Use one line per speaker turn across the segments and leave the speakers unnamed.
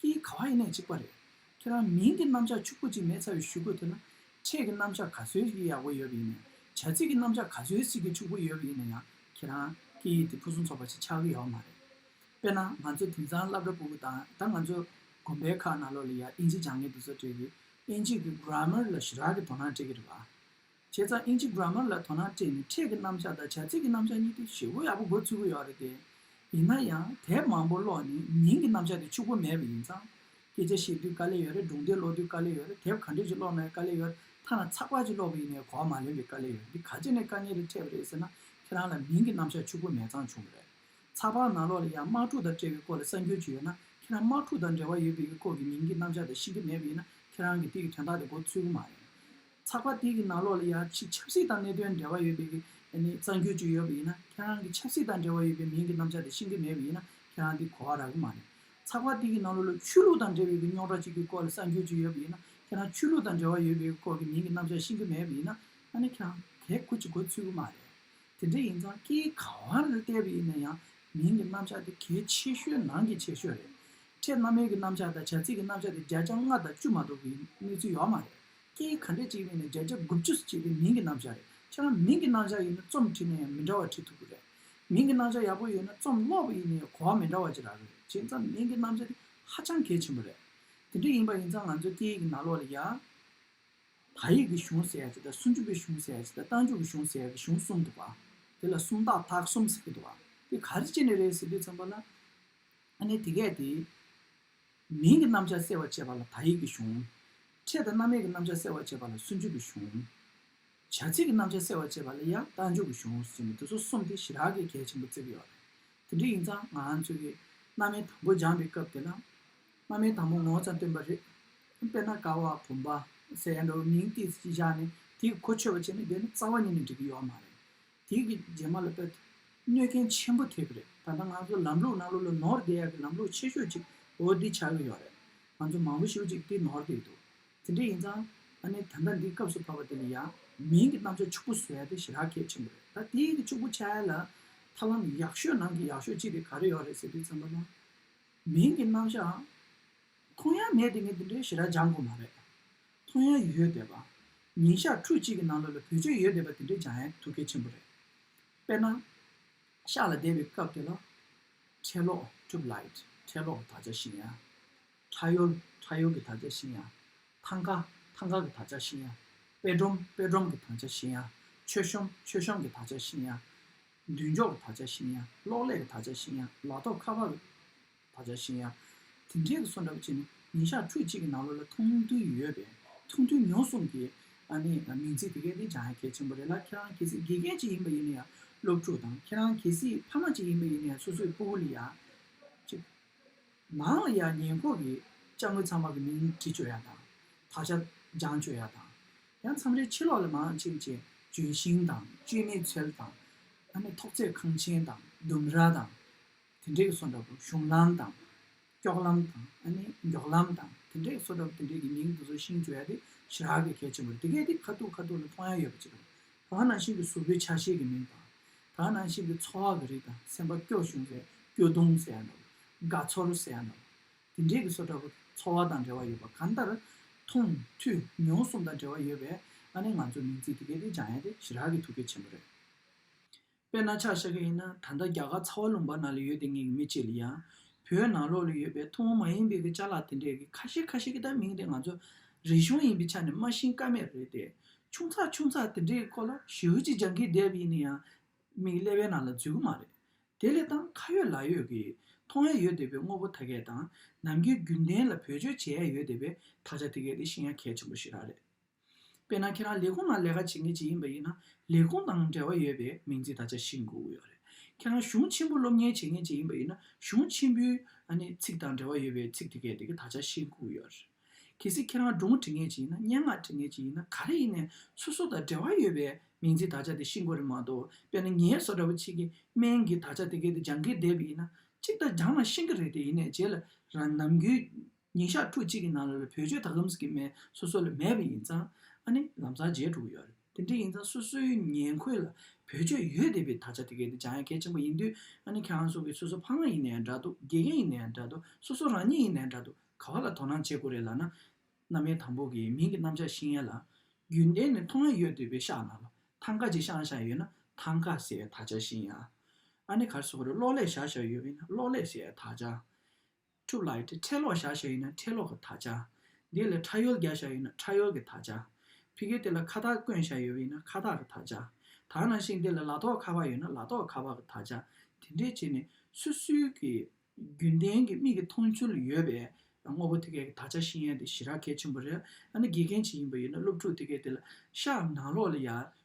ཀྱི་ག་བ་ཡེ་ནས་གཅིག་པ་རེད། ཁྱེད་རང་མིང་གི་རྣམ་གཞག་ཕྱུག་པོ་གཅིག་མེད་ཚ་བའི་ཞུ་དགོས་ཐུག་ན། ཕྲད་ཀྱི་རྣམ་གཞག་ག་ཚོད་ཅིག་ཡག་པོ་ཡོད་པ་ཡིན་ནས་བྱ་ཚིག་གི་རྣམ་གཞག་ག་ཚོད་ཅིག་གི་ཕྱུག་པོ་ཡོད་པ་ཡིན་ན་ཡང་ཁྱེད་རང་ཀྱི་ཡིད་དེ་ཕུན་སུམ་ཚོགས་པ་ཞིག་ཆགས་ཀྱི་ཡོད་མ་རེད། དཔེར་ན་ང་ཚོ་དེང་སང་སླབ་ར་པུ་གུ་དང་ད་ང་ཚོ་དགོན་པའི་ཁག་ན་ལོ་ལ་ཡར་ཨིན་ཇི་སྦྱང་མཁན་འདུག་ཚོ་ཁྲེལ་གྱིས་ཨིན་ཇིས་ཀྱི Grammar ལ་ཞི་རགས་ཀྱི་དོ་སྣང་བྱེད་ཀྱི་རེད་བ། བྱས་ཙང་ཨིན་ཇི Grammar ལ་དོ་སྣང་སྤྲད་ནས་ཕྲད་ཀྱི་རྣམ་གཞག་དང་བྱ་ཚིག་གི་རྣམ་གཞག་གཉིས་ཀྱི་ཞིབ་བོ་ཡག་པོ་འགོད་ཚུལ་གོ་ཡོག་རེད་དེ། ཡིན་ན་ཡང་དེབ་མང་བོ་ཀློག་ནས་མིང་གི་རྣམ་གཞག་དེ་ཕྱུག་པོ་མེད་པ་ཡིན་ཙང། སྐད་ཆ་བཤད་དུས་དཀའ་ལས་ཡོད་རེད་སྒྲུང་དེབ་ཀློག་དུས་དཀའ་ལས་ཡོད་རེད་དེབ་ག་འདྲ་ཞིག་ཀློག་ན་དཀའ་ལས་ཡོད་རེད་ཐ་ན་ཚགས་པར་ཅིག་ཀློག་པ་ཡིན་ནའི་གོ་བ་མ་ལོན་པའི་དཀའ་ལས་ཡོད་རེད་འདི་ག་ཅི་ནས་དཀའ་ངལ་རེ་འཕྲད་པ་རེད་ཟེར་ན་ཁྱེད་རང་ལ་མིང་གི་རྣམ་གཞག་ཕྱུག་པོ་མེད་ཙང་བྱུང་བ་རེད། ཚགས་པར་ནང་ཀློག་ལ་ཡང་དམག་འཁྲུག་དང་འབྲེལ་བའི་སྐོར་ལ་གསར་འགྱུར་ཅིག་ཡོད་ན་ཁྱེད་རང་དམག་འཁྲུག་དང་འབྲེལ་བ་ཡོད་པའི་སྐོར་གྱི་མིང་གི་རྣམ་གཞག་དེ་ཤེས་ཀྱི་མེད་པ་ཡིན་ན་ཁྱེད་རང་གི་དེ་གི་དོན་དག་དེ་འགོ་ཚུལ་གོ་མ་རེད། ཚགས་པར་དེ་གི་ནང་ལོགས་ལ་ཡང་ཆེས་ཆབ་སྲིད་དང་གནད་དོན་འབྲེལ་བ་ཡོད་པའི་གསར་འགྱུར་ཅིག་ཡོད་པ་ཡིན་ན་ཁྱེད་རང་གི་ཆབ་སྲིད་དང་འབྲེལ་བ་ཡོད་པའི་མིང་གི་རྣམ་བཞག་དེ་ཤེས་ཀྱི་མེད་པ་ཡིན་ན་ཁྱེད་རང་དེ་གོ་བ་རག་གི་མ་རེད། ཚགས་པར་དེ་གི་ནང་ལོགས་ལ་ཆོས་ལུགས་དང་འབྲེལ་བའི་གི་རྙོག་དྲ་ཅིག་གི་སྐོར་ལ་གསར་འགྱུར་ཅིག་ཡོད་པ་ཡིན་ན་ཁྱེད་རང་ཆོས་ལུགས་དང་འབྲེལ་བ་ཡོད་པའི་སྐོར་གི་མིང་གི་རྣམ་བཞག་ཤེས་ཀྱི་མེད་པ་ཡིན་ན་ད་ནི་ཁྱེད་རང་གས་གོ་ཅིག་གོ་ཚུལ་གི་མ་རེད། དེ་འདྲ་ཡིན་ཙང་སྐད་ག་བ་ལ་བལྟས་པ་ཡིན་ན་ཡང་མིང་གི་རྣམ་བཞག་དེ་གལ་ཆེ་ཤོས་ནང་གི་ཆེ་ཤོས་རེད། ཕྲད་སྣ་མའི་གི་རྣམ་བཞག་དང་བྱ་ཚིག་གི་རྣམ་བཞག་དེ་བརྒྱ་ཆ་ལྔ་དང་བཅུ་མ་གཏོགས་གི་གནས་ཚུལ་ཡོག་མ་རེད། སྐད་ཡིག་ག་འདྲས་བྲིས་ཡིན་ནི་བརྒྱ་ཆ་དགུ་བཅུ་སྤྱི་པའི་མིང་གི་རྣམ་གཞག་རེད་ཁྱེད་རང་མིང་གི་རྣམ་གཞག་ཡིན་ནི་རྩོམ་བྲིས་ན་ཡང་མི་འདྲ་བ་བྲིས་ཐུབ་ཀྱི་རེད། མིང་གི་རྣམ་གཞག་ཡག་པོ་ཡོད་ན་རྩོམ་ཀློག་པ་ཡིན་ནི་གོ་བ་མི་འདྲ་བ་ཅིག་རག་གི་རེད་བྱས་ཙང་མིང་གི་རྣམ་གཞག་ནི་ཧ་ཅང་གལ་ཆེན་པོ་རེད། དེ་འདྲ་ཡིན་པ་ཡིན་ཙང་ང་ཚོའི་སྐད་ཡིག་གི་ནང་ལོགས་ལ་ཡང། བ་ཡིག་གི་གཞུང་ཟེར་ཡག་ཅིག་དང་སུན་ཅུ་པའི་གཞུང་ཟེར་ཡག་ཅིག་དང་རྟ་མཇུག་གི་གཞུང་ཟེར་ཡག་གི་གཞུང་གསུམ་འདུག་བ། དེ་ལ་སུམ་རྟགས་དག་གསུམ་ཟེར་གྱི་འདུག་བ། དེ་ག་རེ་ཅི་ནས་རེད་ཟེར་དུས་ཙམ་པ་ལ། ཨ་ནི་དེ་སྐད་དེ། མིང་གི་རྣམ་བྱང་གསལ་བར་བྱེད་པ་ལ་དག་ཡིག་གི་གཞུང། ཕྲད་དང་རྣམ་དབྱེ་གི་རྣམ་བྱང་གསལ་བར་བྱེད་པ་ལ་སུན་འཇུག་གི་གཞུང། བྱ་ཚིག་གི་རྣམ་བྱང་གསལ་བར་བྱེད་པ་ལ་ཡང་དག་འཇུག་གི་གཞུང་ཟེར་ནས་འདི་ཚོ་གསུམ་དེ་ཞི་རགས་ཀྱི་གལ་ཆེན་པོ་བརྩི་གི་ཡོད་རེད། དེ་འདྲ་ཡིན་ཙང་ང་ཚོས་ཀྱི་སྣ་མའི་དང་པོ་སྦྱངས་པའི་སྐབས་དེ་ན་སྣ་མའི་དང་པོ་ངོ་ཚ་སྟོན་པ་རེད། དཔེར་ན་ཀ་བ་བུམ་པ་ཟེར་ཡ་འདྲ་བའི་མིང་ཏིག་བཞག་ནས་དེ་ཡི་གོ་ཆོད་པ་བྱས་ན་དེ་ནི་རྩ་བ་ཉིད་ནས་འགྲིག་གི་ཡོད་མ་རེད། དེ་གི་རྗེས་མ་ལ་དཔལ་དུ་གནོད་མཁན་ཆེན་པོ་ཐེབས་རེད་ད་ལྟ་ང་ཚོ་ལམ་ལུགས་ནང་ལོ་ལོ་ནོར་བསྡད་ཡག་གི་ལམ་ལུགས་ཆེ་ཤོས་ཅིག་འོ་འདི་ཆགས་ཀྱི་ཡོད་རེད་ང་ཚོ་མང་པོ་ཞིག་ཅིག་འདི་ནོར་བསྡད་འདུག་དེ་འདྲ་ཡིན་ཙང་ཨ་ནེ་ད་ལྟ་འདི་སྐབས་སུ་བབས་པ་དེ་ནི་ཡང་མིན་གི་གནམ་ལྕགས་ཕྱུག་པོ་བཟོས་ཏེ་ཞི་རགས་གལ་ཆེན་པོ་རེད་ད་དེ་གི་ཕྱུག་པོ་ཆགས་ཡས་ལ་ཐབས་ལམ་ཡག་ཤོས་ནང་གི་ཡག་ཤོས་ཅིག་དེ་ག་རེ་ཡོད་རེད་ཟེར་དུས་ཙམ་པ་ན་མིན་གི་གནམ་ལྕགས་མཐོང་ཡང་མེད་དེ་ངས་འདི་འདྲའི་ཞི་རགས་སྦྱང་དགོས་མ་རེད་མཐོང་ཡ་ཡོད་བསྡད་པ། ཉིན་ཞག་ཁྲུ་གཅིག་གི་ནང་ལོ་ལ་བུད་ཆོད་ཡོད་བསྡད་པ་དེ་འདྲའི་སྦྱང་ཡ་ཐུགས་གལ་ཆེན་པོ་རེད། དཔེར་ན། ཤག་ལ་བསྡད་པའི་སྐབས་དེ་ལ། འཕྲལ་ལོག Trip Light འཕྲལ་ལོག་གི་དག་ཆ་ཤེས་ཡ། འཕྲ་ཡོལ་འཕྲ་ཡོལ་གྱི་དག་ཆ་ཤེས་ཡ། ཐང་ཀ་ཐང་ཀ་གི་དག་ཆ་ཤེས་ཡ། དཔེ་སྒྲོམ་དཔེ་སྒྲོམ་གྱི་དང་ཆ་ཤེས་ཡ། མཆོད་གཤོམ་མཆོད་གཤོམ་གྱི་དག་ཆ་ཤེས་ཡ། མདུན་ཅོག་གི་དག་ཆ་ཤེས་ཡ་གློག་ཀླད་ཀྱི་དག་ཆ་ཤེས་ཡ་ལག་ཐོགས་ཁ་པར་བ་བྱ་ཞེས་ཡང་དེ་འདྲའི་གསོལ་འདྲ་བ་བྱས་ནས་ཉིན་ཞག་ཁྲུ་གཅིག་གི་ནང་ལོ་ལ་ཐུང་ཐུང་ཡོད་པས་ཐུང་ཐུང་ཉོ་གསུམ་གྱི་ནི་མིང་ཚིག་དེ་གའི་དེ་བྱང་ཡང་གལ་ཆེན་པོ་རེད་ལ་ཁྱེད་རང་གལ་སྲིད་དགེ་རྒན་ཅིག་ཡིན་པ་ཡིན་ན་ཡང་སློབ་ཕྲུག་དང་ཁྱེད་རང་གལ་སྲིད་ཕ་མ་ཅིག་ཡིན་པ་ཡིན་ན་ཡང་སོ་སོའི་སྤུ་བོ་ལ་ཡང་ཅིག་ནང་ལ་ཡང་ཉེ་འཁོར་གྱི་དཔྱ་དངུལ་ཚང་མ་གི་མིང་བྲིས་བཅོས་ཡག་དང་དག་ཆ་སྦྱང་བཅོས་ཡག་དང་ཡང་མཚམས་རེ་ཕྱི་ལོགས་ལ་མང་ཆེ་བ་ཅིག་ལྗོན་ཤིང་དང་བཅོས་མའི་ཚལ་དང་ཐོག་རྩེག་ཁང་ཆེན་དང་ལྡུམ་ར་དང། དེ་འདྲའི་སོ་འདྲ་བོ་གཞུང་ལམ་དང། སྐྱོགས་ལམ་དང་ཨ་ནི་མགྱོགས་ལམ་དང་དེ་འདྲའི་སོ་འདྲ་བོ་དེ་འདྲའི་གི་མིང་དེ་ཚོ་ཤིང་བརྗོད་ཡ་དེ་ཞི་རག་གི་གལ་ཆེན་པོ་རེད་དེ་གས་དེ་ཁ་ཐུག་ཁ་ཐུག་ལ་མཐོང་ཡ་ཡོད་པ་ཅིག་རེད་ད་ནང་ཤིང་གི་གཟུགས་པོའི་ཆ་ཤས་ཀྱི་མིང་དང། ད་ནང་ཤིང་གི་ཚོ་བ་གི་རིགས་དང་སེམས་པ་སྐྱོ་གཞུང་ཟེར་སྐྱོ་གདུང་ཟེར་ཡ་འདྲ་བོ་དགའ་ཚོར་ཟེར་ཡ་འདྲ་བོ་དེ་འདྲའི་གི་སོ་འདྲ་བོ་ཚོ་བ་དང་འབྲེལ་བ་ཡོད་པ་གང་ལྟར། མཐོང་ཐོས་མྱོང་གསུམ་དང་འབྲེལ་བ་ཡོད་པས་ཨ་ནི་ང་ཚོ་མིང་ཚིག་དེ་གས་དེ་སྦྱང་ཡ་དེ་ཞི་རག་གི་ཐུགས་གལ་ཆེན་པོ་རེད། དཔེ་སྣ་ཆགས་བཤད་གི་ཡིན་ན་ད་ལྟ་རྒྱ་གར་ཚ་བ་ལུང་པ་ན་ལ་ཡོད་དེ་ངེད་ཀྱི་མི་གཅིག་ལ་ཡང་བོད་ནང་ལོག་ལ་ཡོད་པའི་ཐུ་བོ་མ་ཡིན་པའི་གི་བཅའ་ལག་དེ་འདྲའི་གི་ཁ་ཤས་ཁ་ཤས་གི་ད་མིང་དེ་ང་ཚོ་རིག་གཞུང་ཡིན་པའི་ཆ་ནས་སྨྲ་ཤིང་ཀ་མེད་རེད་དེ་ཆུང་ཚགས་ཆུང་ཚགས་དེ་འདྲའི་སྐོར་ལ་ཞིའུ་ཅི་ཇང་གིས་བསྡད་པ་ཡིན་ན་ཡང་མིག་ཀླད་པའི་ནང་ལ་འཛུལ་གི་མ་རེད་དེ་ལས་ཏང་ཁ་ཡོད་ལག་ཡོད་གི་མཐོང་ཡ་ཡོད་དེ་བས་དངོས་པོ་ད་གས་དང་ནམ་རྒྱུན་རྒྱུན་ལྡན་ལ་བེད་སྤྱོད་བྱེད་ཡ་ཡོད་དེ་བས་ད་ཆ་དེ་གས་དེ་ཤེས་ཡ་གལ་ཆེན་པོ་ཞིག་རག་རེད། དཔེར་ན་ཁྱེད་རང་ལས་ཁུངས་ནང་ལས་ཀ་བྱེད་མཁན་ཅིག་ཡིན་པ་ཡིན་ན་ལས་ཁུངས་དང་འབྲེལ་བ་ཡོད་པའི་མིང་ཚིག་ད་ཆ་ཤི་འགོ་ཡོད་རེད། ཁྱེད་རང་གཞུང་ཆེན་པོ་སློབ་གཉེར་བྱེད་མཁན་ཅིག་ཡིན་པ་ཡིན་ན་གཞུང་ཆེན་པོའི་ཚིག་དང་འབྲེལ་བ་ཡོད་པའི་ཚིག་དེ་གས་དེ་གས་ད་ཆ་ཤི་འགོ་ཡོད་རེད། གལ་སྲིད་ཁྱེད་རང་སྒྲུང་འབྲི་མཁན་ཅིག་ཡིན་ན་སྙན་ངག་འབྲི་མཁན་ཅིག་ཡིན་ན་ག་རེ་ཡིན་ནས་སོ་སོ་དང་འབྲེལ་བ་ཡོད་པའི་མིང་ཚིག་ད་ཆ་དེ་ཤི་འགོ་རེད་མ་གཏོགས་དཔེར་ན་ངའི་སོ་འདྲ་བོ་ཆེ་གེ་མན་གིས་ད་ཆ་དེ་གས་དེ་སྦྱང་གིན་བསྡད་པ་ཡིན་ན་གཅིག་ད་སྦྱང་ན་ཤི་གི་རེད་དེ་ཡིན་ནས་རྗེས་ལ་རང་ནམ་རྒྱུན་ཉིན་ཞག་ཕྲུག་གཅིག་གི་ནང་ལ་ལ་བོད་ཆོས་དར་ལམ་ཟེར་གྱི་མེད་སོ་སོ་ལ་མེད་པ་ཡིན་ཙང་ཨ་ནི་ལམ་སང་མཇལ་འགྲོ་གི་ཡོད་རེད་དེ་འདྲ་ཡིན་ཙང་སོ་སོའི་ཉེ་འཁོད་ལ་བོད་ཆོས་ཡོད་དེ་བས་ད་ཆ་དེ་གའི་འདི་བྱང་ཡ་གལ་ཆེན་པོ་ཡིན་དུས་ཨ་ནི་ཁྱེད་རང་སོགས་ཀྱི་སོ་སོ་ཕ་མ་ཡིན་ན་ཡང་འདྲ་འདུག་དགེ་རྒན་ཡིན་ན་ཡང་འདྲ་འདུག་སོ་སོ་རང་ཉིད་ཡིན་ན་ཡང་འདྲ་འདུག་ག་བ་ལ་དོ་སྣང་བྱེད་དགོས་རེད་ལ་ན་མནའ་མའི་དང་པོ་གི་མིང་གི་རྣམ་གཞག་ཤིང་ཡ་ལ་རྒྱུན་ལྡན་ནས་མཐོང་ཡ་ཡོད་དེ་བས་ཤག་ན་ལ་ཐང་ཀ་ཅིག་ཤང་ཤང་ཡོད་ན་ཐང་ཀ་ཟེར་ད་ཆ་ཤིང་ཡ་ཨ་ནི་གར་སོ་གར་གློག་ཀླད་ཞག་ཞག་ཡོད་པ་ཡིན་ན་གློག་ཀླད་ཟེར་ད་ཆ། ཕྲུག་ལ་ཡོད་དེ་ཁྲེ་ལོག་བཞག་བྱ་ཡོད་ན་ཁྲེ་ལོག་གི་དག་བྱ། འདི་ལ་ཁྲ་ཡོལ་རྒྱག་བྱ་ཡོད་ན་ཁྲ་ཡོལ་གྱི་དག་བྱ། ཕི་གེ་དེ་ལ་ཁ་དག་བསྐོན་བྱ་ཡོད་ཡིན་ན་ཁ་དག་གི་དག་བྱ། དག་ན་ཤིང་དེ་ལ་ལ་ཏོག་ཁ་བ་ཡོད་ན་ལ་ཏོག་ཁ་བ་གི་དག་བྱ། དེ་འདྲའི་བྱེད་ནི་སུད་སུའི་གི་རྒྱུན་ལྡན་གྱི་མིག་གི་མཐོང་ཚུལ་ཡོད་པས་དངོས་པོ་དེ་གའི་གི་དག་བྱ་ཤིང་ཡན་དེ་ཞི་རགས་གལ་ཆེན་པོ་རེད། ཡང་ན་དགེ་རྒན་བྱེད་ཡིན་པ་ཡོད་ན་སློབ་ཕྲུག་དེ་གའི་དེ་ལ་ཤག་ནང་ལོག་ལ་ཡར་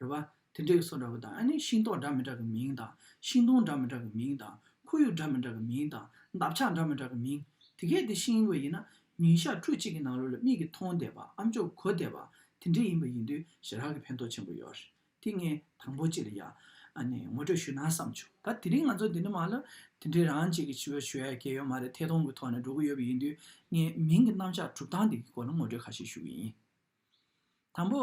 རེད་པ། དེ་འདྲའི་སོ་འདྲ་བོ་དང་ཨ་ནི་ཤིང་ཏོག་འདྲ་མི་འདྲ་གི་མིང་དང་ཤིང་སྡོང་འདྲ་མི་འདྲ་གི་མིང་དང་ཁོར་ཡུག་འདྲ་མི་འདྲ་གི་མིང་དང་འདབ་ཆགས་འདྲ་མི་འདྲ་གི་མིང། དེ་གས་དེ་ཤིང་བོ་ཡིན་ན་ཉིན་ཞག་ཕྲུག་གཅིག་གི་ནང་ལོ་ལ་མིག་གིས་མཐོང་བསྡད་པ་ཨམ་ཅོག་གོ་བསྡད་པ་དེ་འདྲ་ཡིན་པ་ཡིན་དུས་ཞེ་དྲག་གི་ཕན་ཐོགས་ཆེན་པོ་ཡོད་རེད་དེ་ངས་དང་པོ་ཅི་ལ་ཡང་ཨ་ནི་ངོ་སྤྲོད་ཞུས་ན་བསམ་བྱུང་ད་དེ་རིང་ང་ཚོ་འདི་འདྲ་མ་ལ་དེ་འདྲའི་རང་གཅིག་གི་ཕྱི་བོད་ཆོས་ཡ་གས་ཡོད་མ་རེད་ཐད་གཏོང་གི་ཐོག་ནས་འགྲོ་གི་ཡོད་པ་ཡིན་དུས་ངས་མིང་གི་རྣམ་གཞག་གྲུབ་སྟངས་འདི་གི་སྐོར་ལ་ངོ་སྤྲོད་ཁ་ཤས་ཞུ་གི་ཡིན། དང་པོ།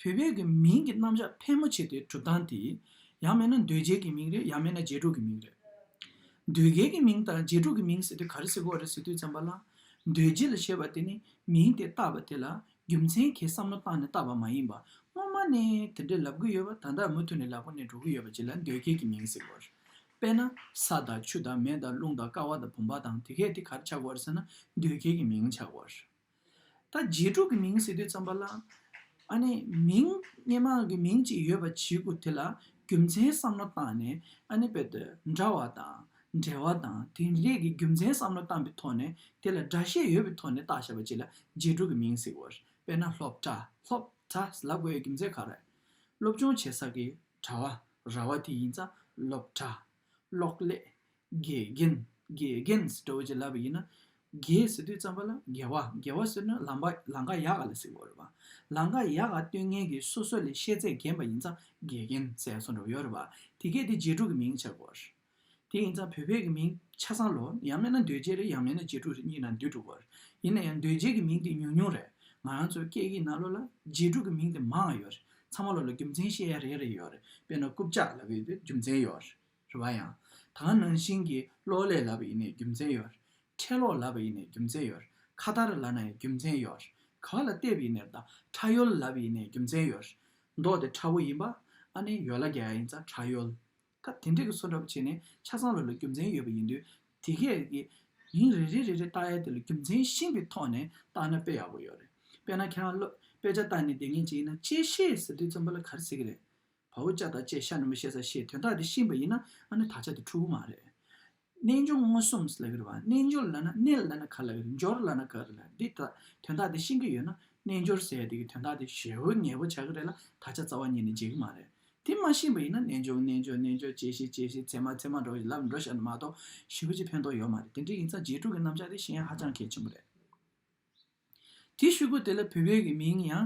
བུ་བེད་ཀྱི་མིང་གི་རྣམ་གཞག་ཕལ་མོ་ཆེ་དེ་གྲུབ་སྟངས་དེ། ཡང་མེད་ན་འདོད་རྒྱལ་གྱི་མིང་རེད་ཡང་མེད་ན་རྗེས་གྲུབ་ཀྱི་མིང་རེད། འདོད་རྒྱལ་གྱི་མིང་དང་རྗེས་གྲུབ་ཀྱི་མིང་ཟེར་དུས་ག་རེ་ཟེར་དགོས་བ་རེད་ཟེར་དུས་བཙན་པ་ལ། འདོད་རྒྱལ་ལ་ཞེས་པ་དེ་ནི་མིང་དེ་བཏགས་པ་དེ་ལ་རྒྱུ་མཚན་གྱིས་བསམ་བློ་བཏང་ནས་བཏགས་པ་མ་ཡིན་པར་སྔོན་མ་ནས་དེ་འདྲས་ལབ་གི་ཡོད་བ་ད་ལྟ་མུ་མཐུད་ནས་ལབ་གི་ནས་འགྲོ་གི་ཡོད་བ་བྱས་ལ་འདོད་རྒྱལ་གྱི་མིང་ཟེར་དགོས་རེད། དཔེར་ན། ས་དང་ཆུ་དང་མེ་དང་རླུང་དང་ཀ་བ་དང་བུམ་པ་དང་དེ་གས་དེ་ག་རེ་བྱ་དགོས་རེད་ཟེར་ན་འདོད་རྒྱལ་གྱི་མིང་བྱ་དགོས་རེད། ད་རྗེས་དྲུག་གི་མིང་ཟེར་དུས་བརྩམས་པ་ལ། ཨ་ནེ། མིང་སྙན་མ་གི་མིང་ཅིག་ཡོད་པ་བྱེད་དགོས་དེ་ལ་རྒྱུ་མཚན་བསམ་བློ་བཏང་ནས་ཨ་ནེ་བེད་འདྲ་བ་དང་འབྲེལ་བ་དང་དེ་རིགས་ཀྱི་རྒྱུ་མཚན་བསམ་བློ་བཏང་པའི་ཐོག་ནས་དེ་ལ་སྒྲ་བཤད་ཡོད་པའི་ཐོག་ནས་བཏགས་བྱས་པ་ཅིག་ལ་རྗེས་དྲུག་གི་མིང་ཟེར་དགོས། དཔེར་ན་སློབ་གྲྭ Hlop Tra ལ་དགོས་ཡོད་རྒྱུ་མཚན་ག་རེ། སློབ་སྦྱོང་བྱེད་ས་ཀྱི་གྲྭ་བ་རྭ་བ་དེ་ཡིན་ཙང་སློབ་གྲྭ། གློག་ཀླད། དགེ་རྒན། དགེ་རྒན། སྒྲ་འོད་ཀྱི་བསླབ་པ་ཡིན་ན། དགེ་ཟེར་དུས་རྩམ་པ་ལ་དགེ་བ། དགེ་བ་ཟེར་ན་ལམ་པ་ལང་ཀ་ཡག་ག་ལ་ཟེར་བ་རེད་པ། ལང་ཀ་ཡག་ག་སྟོད་ངན་གྱི་སོ་སོ་ལས་ཤེས་ཚད་རྒན་པ་ཡིན་ཙང་དགེ་རྒན་ཟེར་སོང་འགྲོ་ཡོད་རེད་པ། དེ་སྐད་དེ་རྗེས་དྲུག་གི་མིང་ཆགས་པར། དེ་ཡིན་ཙང་བོད་ཕལ་གྱི་མིང་ཆ་ཚང་ལོ། ཡང་མེད་ན་འདོད་རྗེ་རེད་ཡང་མེད་ན་རྗེས་དྲུག་རེད་གཉིས་ན་འདུས་འགྲོ་བར། ཡིན་ན་ཡང་འདོད་རྗེ་གྱི་མིང་དེ་ཉུང་ཉུང་རེད། ང་རང་ཚོའི་སྐད་ཡིག་ནང་ལོ་ལ་རྗེས་དྲུག་གི་མིང་དེ་མང་ཡོད་རེད། ཚང་མ་ལོ་ལ་རྒྱུ་མཚན་བཤད་ཡ་རེ་རེ་ཡོད་རེད། དཔེར་ན་རྐུབ་ལྕགས་ལ་བོད་དུ་རྒྱུ་མཚན་ཡོད་རེད། རེ་བ་ཡང། ད་སྔ་ནང་བཞིན་གྱི་གློག་ཀླད་ལབ་པ་ཡིན་ནའི་རྒྱུ་མཚན་ཡོད། ཁྲལ་གློག་ལབ་པ་ཡིན་ནའི་རྒྱུ་མཚན་ཡོད། ཁ་བརྡར་ལབ་ན་ཡང་རྒྱུ་མཚན་ཡོད། ག་བ་ལ་བལྟས་པ་ཡིན་ནའི་ད་ཁྲ་ཡོལ་ལབ་པ་ཡིན་ནའི་རྒྱུ་མཚན་ཡོད། མདོག་དེ་ཁྲ་བོ་ཡིན་པ། ཨ་ནེ་ཡོལ་ལ་རྒྱ་ཡ་ཡིན་ཙང་ཁྲ་ཡོལ། སྐབས་དེ་འདྲས་ཀྱི་སོ་འདྲ་པོ་བྱས་ནས་ཆ་ཚང་ལ་ལ་རྒྱུ་མཚན་ཡོད་པ་ཡིན་དུས་དེ་གས་ཀྱི། མིང་རེ་རེ་རེ་རེ་བཏགས་ཡ་དེ་ལ་རྒྱུ་མཚན་ཤིང་གི་ཐོག་ནས་བཏགས་ན་དཔེ་ཡག་པོ་ཡོད་རེད། དཔེ་ན་ཁྱེད་རང་བློ་དཔེ་ཆ་བཏགས་ནས་དེ་ངས་ཇི་ཡིན་ན་ཅེས་ཤེས་ཟེར་དུས་རྩོམ་པ་ལ་གར་ཟེར་གྱི་རེད། བ་བོ་ཅག་དང་བཅས་ཤ་ནུ་མ་བཤད་ས་ཞེས་དོན་དག་འདི་ཤེས་པ་ཡིན་ན་ནི་དག་ཆ་དེ་འཁྲུལ་བོ་མ་རེད། རྣལ་འབྱོར་མངོན་སུམ་ལ་ཡོད་བ་རྣལ་འབྱོར་ལ་ན་རྣལ་ལ་ན་ག་ལ་ཡོད་འབྱོར་ལ་ན་ག་རེད་ལ་འདི་དག་དོན་དག་འདི་ཤེས་ཀྱི་ཡོད་ན་རྣལ་འབྱོར་ཟེར་དེ་གི་དོན་དག་འདི་ཞལ་བོ་ངལ་བོ་བྱ་གི་རེད་ལ་དག་ཆ་རྩ་བ་ཉིད་ནས་འབྱེད་གི་མ་རེད། དེ་མ་ཤེས་པ་ཡིན་ན་རྣལ་འབྱོར་རྣལ་འབྱོར་རྣལ་འབྱོར་བྱས་ཤིག་བྱས་ཤིག་ཚད་མ་ཚད་མ་འགྲོ་ཞིག་ལབ་འགྲོ་ཞག་ནི་མ་གཏོགས་ཞི་བ་གཅིག་ཕན་ཐོག་ཡོད་མ་རེད་དེ་འདྲའི་ཡིན་ཙང་རྗེས་འཁྲུག་གི་རྣམ་གཞག་དེ་གཞན་ཧ་ཅང་གལ་ཆེན་པོ་རེད། དེའི་ཤུལ་སྒོ་དེ་ལ་བུད་མེད་ཀྱི་མིང་ཡང།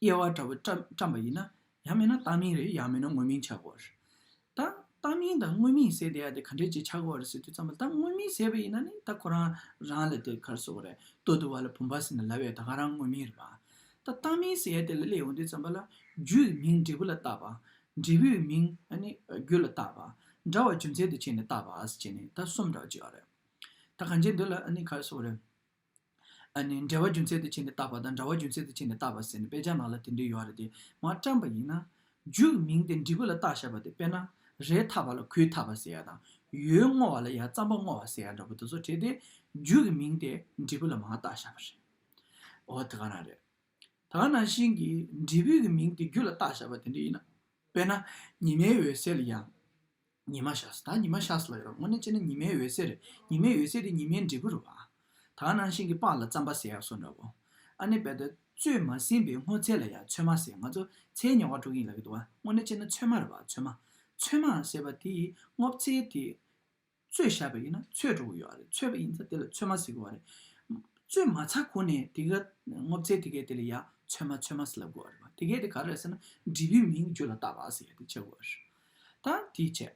དབྱེ་བ་འདྲ་བོ་བཀྲམ་པ་ཡིན། ཡང་མིན་ན་བཏགས་མིང་རེད་ཡང་མིན་ན་དངོས་མིང་ཆགས་སྒོ་རེད། ད། བཏགས་མིང་དང་དངོས་མིང་ཟེར་བསྡད་ཡ་དེ་ག་འདྲའི་ཆེ་ཆགས་སྒོ་རེད་ཟེར་དུས་ཙམ་ལ་ད་དངོས་མིང་ཟེར་བ་ཡིན་ན་ནི་ད་ཁོ་རང་རང་ལ་དེ་གར་བཟོ་བ་རེད་ལྟོས་བསྡུ་བ་ལ་བུམ་པ་ཟེར་ན་ལ་བས་ད་ག་རང་དངོས་མིང་རེད་པ། ད་བཏགས་མིང་ཟེར་ཡ་དེ་ལ་སླེབས་ཡོང་དུས་ཙམ་པ་ལ། རྒྱུ་ཡི་མིང་འབྲས་བུ་ལ་བཏགས་པ། འབྲས་བུའི་མིང་ནི་རྒྱུ་ལ་བཏགས་པ། འདྲ་བ་རྒྱུ་མཚན་དུ་བྱས་ནས་བཏགས་པ་ཟེར་བྱས་ནས་ད་གསུམ་འདྲ་བ་བྱས་པ་རེད། ད་གང་བྱས་འདི་ལ་ནི་གར་བཟོ་བ་རེད། ནི། འབྲེལ་བ་རྒྱུ་མཚན་དུ་བྱས་ནས་བཏགས་པ་དང་འདྲ་བ་རྒྱུ་མཚན་དུ་བྱས་ནས་བཏགས་པ་ཟེར་ནས་དཔེ་ཆ་ནང་ལ་དེ་འདྲའི་ཡོད་རེད་དེ་མ་བཀྲམ་པ་ཡིན་ན། རྒྱུའི་མིང་དེ་འབྲི་གུ་ལ་བཏགས་བཞག་པ་དེ་དཔེར་ན། རས་འཐག་པ་ལ་གུས་འཐག་པ་ཟེར་ཡ་དང། ཡོས་བསྔོ་བ་ལ་ཡར་རྩམ་པ་བསྔོ་བ་ཟེར་ཡ་འདྲ་པོ་དེ་ཚོ་བྲིས་ཏེ། རྒྱུ་གི་མིང་དེ་འབྲི་གུ་ལ་མ་བཏགས་བཞག་པ་རེད། འོ་དེ་ག་རང་རེད། ད་ནང་བཞིན་གྱི་འབྲི་བུའི་གི་མིང་དེ་རྒྱུ་ལ་བཏགས་བཞག་པ་དེ་འདྲ་ཡིན་ན། དཔེར་ན། ཉི་མའི་འོད་གསལ་ལ་ཡང། ཉི་མ་ཤཱས་དང་ཉི་མ་ཤཱས་ལ་ཡོད་དངོས་གནས་དཔྱད་ན་ཉི་མའི་འོད་ཟེར་རེད་ཉི་མའི་འོད་ཟེར་དེ་ཉི་མའི་འབྲས་བུ་རུ་བ། དག་སྣང་ཞིང་གི་པགས་ལ་རྩམ་པ་ཟེར་ཡག་སོ་འདྲ་བོ། ཨ་ནེ་བལ་དོ། བཙོས་མ་ཟིན་པའི་སྔོ་ཚལ་ལ་ཡང་ཚོད་མ་ཟེར་ང་ཚོ་ཚའི་ཉེ་བར་དྲུག་ཡིན་ལབ་ཀྱི་འདུག་བ་དངོས་གནས་དཔྱད་ན་ཚོད་མ་རེད་བ་ཚོད་མ། ཚོད་མ་ཟེར་བ་དེ་ཡིས་སྔོ་ཚལ་དེ། བཙོས་བཞག་པ་ཡིན་ན་ཚོད་འགྲོ་གི་ཡོད་རེད་ཚོད་པ་ཡིན་ཚ་དེ་ལ་ཚོད་མ་ཟེར་གི་བ་རེད། བཙོས་མ་ཚ་གོ་ནས་དེ་ག་སྔོ་ཚལ་དེ་གའི་དེ་ལ་ཡང་ཚོད་མ་ཚོད་མ་ཟེར་ལབ་དགོས་བ་རེད་བ་དེ་གའི་དེ་ག་རེད་ཟེར་ན་འབྲས་བུའི་མིང་རྒྱུད་ལ་བཏགས་པ་ཟེར་ཡག་དེ་དཔྱད་དགོས་བ་རེད། ད་དེའི་ཆེད།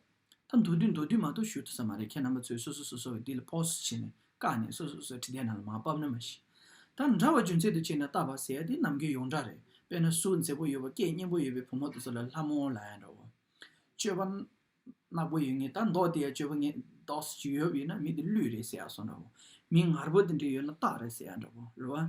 ད་མདོ་དུས་མདོ་དུས་མ་གཏོགས་ཞུ་ཐུབ་ས་མ་རེད་ཁྱེད་རྣམ་པ་ཚོས་སོ་སོ་སོ་སོ་བའི་འདི་ལ་ཕོགས་སུ་བྱས་ནས་བཀག་ནས་སོ་སོ་སོ་སོའི་ཁྲི་ལྡན་ནང་ལ་མ་བབས་ན་མ་གཞི། ད་འདྲ་བ་རྒྱུ་མཚན་དུ་བྱས་ནས་བཏགས་པ་ཟེར་ཡ་དེ་ནམ་མཁའི་ཡོངས་གྲགས་རེད་དཔེར་ན་སུ་མཛེས་པོ་ཡོད་པ་སྐད་སྙན་པོ་ཡོད་པའི་བུ་མོ་དེ་ཚོ་ལ་ལྷ་མོ་ལ་ཡང་འདྲ་བོ། སྤྱོད་པ། གནག་པོ་ཡོད་ངེས་ད་མདོག་དེ་ཡང་སྤྱོད་པ་ངན་མདོག་སུ་ཅིག་ཡོད་ཡོད་ན་མི་དེ་གླུད་རེད་ཟེར་ཡ་སོང་འདྲ་བོ། མི་ངར་པོ་དེ་འདྲ་ཡོད་ན་སྟག་རེད་ཟེར་ཡ་འདྲ་བོ། རེད་བ།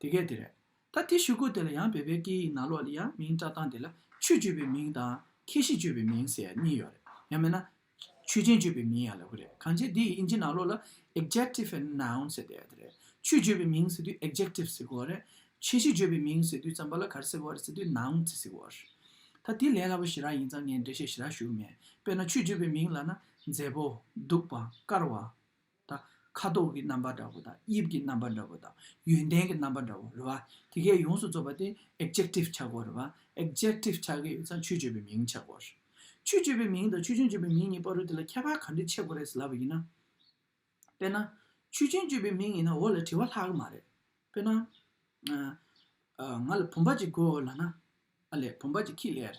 དེ་སྐད་དེ་རེད། ད་དེ་ཞུ་དགོས་དེ་ལ་ཡང་བོད་པའི་སྐད་ཡིག་ནང་ལོགས་ལ་ཡང་མིང་བཀྲ་ཐང་དེ་ལ་ཆོས་སྤྱོད་པའི་མིང་དང། ཁྱད་གཤིས་སྤྱོད་པའི་མིང་ཟེར་གཉིས་ཡོད་རེད། ཡང་མིན་ན། ཆོས་ཅན་སྤྱོད་པའི་མིང་ཡང་ལབ་གི་རེད་གང་བྱས་དེ་ཡི་དབྱིན་ཇི་ནང་ལོགས་ལ། Adjective and Noun། ཟེར་དེ་རེད། ཆོས་སྤྱོད་པའི་མིང་ཟེར་དུས Adjective ཟེར་དགོས་རེད། ཁྱད་གཤིས་སྤྱོད་པའི་མིང་ཟེར་དུས་ཙམ་པ་ལ་གར་ཟེར་དགོས་རེད་ཟེར་དུས Noun ཟེར་དགོས་རེད། ད་དེ་ལས་སླ་པོ་ཞེ་རག་ཡིན་ཙང་ངས་འགྲེལ་བཤད་ཞེ་དྲག་ཞུ་གི་མེད། དཔེར་ན་ཆོས་སྤྱོད་པའི་མིང་ལ་ན། མཛེས་པོ། སྡུག་པ། དཀར་བ། དང། ཁ་དོག་གི་རྣམ་པ་འདྲ་བོ་དང་དབྱིབས་ཀྱི་རྣམ་པ་འདྲ་བོ་དང་ཡོན་ཏན་གྱི་རྣམ་པ་འདྲ་བོ་རེད་བ། དེ་གས་ཡོངས་སུ་རྫོགས་པ་དེ Adjective ཆག་གོ་རེད་བ། Adjective ཆག་གི་ཡོད་ཚ་ཆོས་སྤྱོད་པའི་མིང་ཆག་གོ། ཆོས་སྤྱོད་པའི་མིང་དང་ཆོས་ཅན་སྤྱོད་པའི་མིང་གཉིས་པ་རུ་དེ་ལ་ཁྱད་པར་ག་འདྲི་ཆེ་གོ་རེད་ལབ་པ་ཡིན་ན། དཔེར་ན། ཆོས་ཅན་སྤྱོད་པའི་མིང་ཡིན་ན་འོ་ལ་དྲི་བ་ལྷག་གི་མ་རེད། དཔེར་ན། ང་ལ་བུམ་པ་གཅིག་དགོས་འོ་ལ་ན། ཨ་ལས་བུམ་པ་གཅིག་ཁྱི་ལས།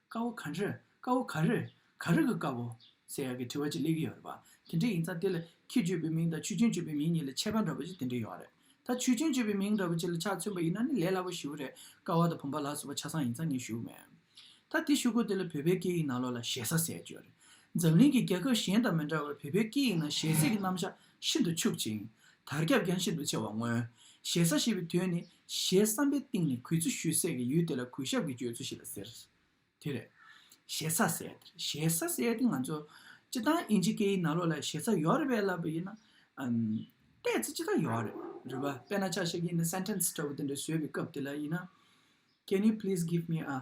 དཀར་བོ་ག་རེ། དཀར་བོ་ག་རེ། ག་རེ་གི་དཀར་བོ། ཟེར་ཡག་གི་དྲི་བ་ཅིག་གླེགས་ཀྱི་ཡོད་རེད་པ། དེ་འདྲས་ཡིན་ཙང་དེ་ལ་ཁྱེད་བརྗོད་པའི་མིང་དང་ཆུ་ཆེན་བརྗོད་པའི་མིང་གཉིས་ལ་ཁྱད་པ་འདྲ་པོ་ཅིག་དེ་འདྲས་ཡོད་རེད། ད་ཆུ་ཆེན་བརྗོད་པའི་མིང་འདྲ་པོ་ཅིག་ལ་ཆ་མཚོན་པ་ཡིན་ན་ནི་ལས་སླ་པོ་ཞིག་རེད། དཀར་བ་དང་བུམ་པ་ལ་སོགས་པ་ཆ་ཚང་ཡིན་ཙང་ངས་ཞུ་མེད། ད་དེ་ཞུ་གོ་དེ་ལ་བོད་པའི་སྐད་ཡིག་ནང་ལོགས་ལ་ཞེ་ས་ཟེར་བརྗོད་རེད། འཛམ་གླིང་གི་རྒྱལ་ཁབ་གཞན་དང་མི་འདྲ་བར་བོད་པའི་སྐད་ཡིག་ནང་ཞེ་ས་ཀྱི་རྣམ་གཞག་ཤིན་ཏུ་ཕྱུག་ཅིང། དར་ཁྱབ་ཀྱང་ཤིན་ཏུ་ཆེ་བར་མངོན། ཞེ་ས་ཞེས་པའི་དོན་ནི། ཞེས་བསམ་པའི་གཏིང་ནས་གུས་བརྩི་ཞུས་སྲེད་ཀྱི་ཡུལ་དེ་ལ་གུས་ཞབས་ཀྱི་བརྗོད་ཚུལ་ཞིག་ལ་ཟེར། དེ་རེད། ཞེ་ས་ཟེར། ཞེ་ས་ཟེར་ཏེ་ང་ཚོ། སྤྱི་བཏང་དབྱིན་ཇི་སྐད་ཡིག་ནང་ལོགས་ལ་ཞེ་ས་ཡོད་རེད་པས་ལབ་པ་ཡིན། ལྟས་ཚེ་སྤྱི་བཏང་ཡོད་རེད། རེད་པ་དཔེར་ན་ཆ་ཤས་ཀྱིས་ནི sentence འདྲ་བོ་དེ་འདྲ་བཟོས་པའི་སྐབས་དེ་ལ་ཡིན། Can you please give me a།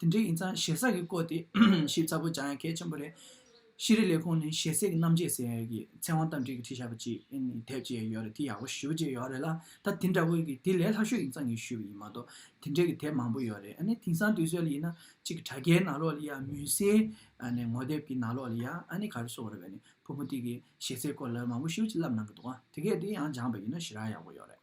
དེ་འདྲ་ཡིན་ཙང་ཞེ་ས་གི་སྐོར་དེ་ཞིབ་ཚགས་པོ་སྦྱང་ཡ་གལ་ཆེན་པོ་རེད། ཤེས་རིག་ལས་ཁུངས་ནས་ཞེ་སའི་གི་རྣམ་འབྱེད་ཟེར་ཡ་གི་ཚེ་དབང་རྟ་མགྲིན་གི་ཁྲིད་བྱ་བ་ཅིག་དེབ་ཅིག་ཡ་ཡོད་རེད་དེ་ཡག་པོ་ཞུ་རྒྱུ་ཡོད་རེད་ལ་ད་དེ་འདྲ་བོ་གི་དེ་ལས་ལྷག་ཤོས་ཡིན་ཙང་གི་ཞུས་པ་ཡིན་མ་གཏོགས་དེ་འདྲ་གི་དེབ་མང་པོ་ཡོད་རེད་ཨ་ནི་དེང་སང་དུས་ཚོད་ལ་ཡིན་ན་ཅིག་གི་དྲ་རྒྱའི་ནང་ལོགས་ལ་ཡ་མུན་སེལ་ངོ་དེབ་གི་ནང་ལོགས་ལ་ཡ་ཨ་ནི་ག་རེ་སོགས་རེད་བས་ནི་བུ་མོ་དེ་གི་ཞེ་སའི་སྐོར་ལ་མང་པོ་ཞུ་ཅིག་ལབ་གནང་གི་འདུག་ཨ་དེ་གས་དེ་ཡང་སྦྱངས་པ་ཡིན་ན་ཞེ་རག་ཡག་པོ་ཡོད་རེད།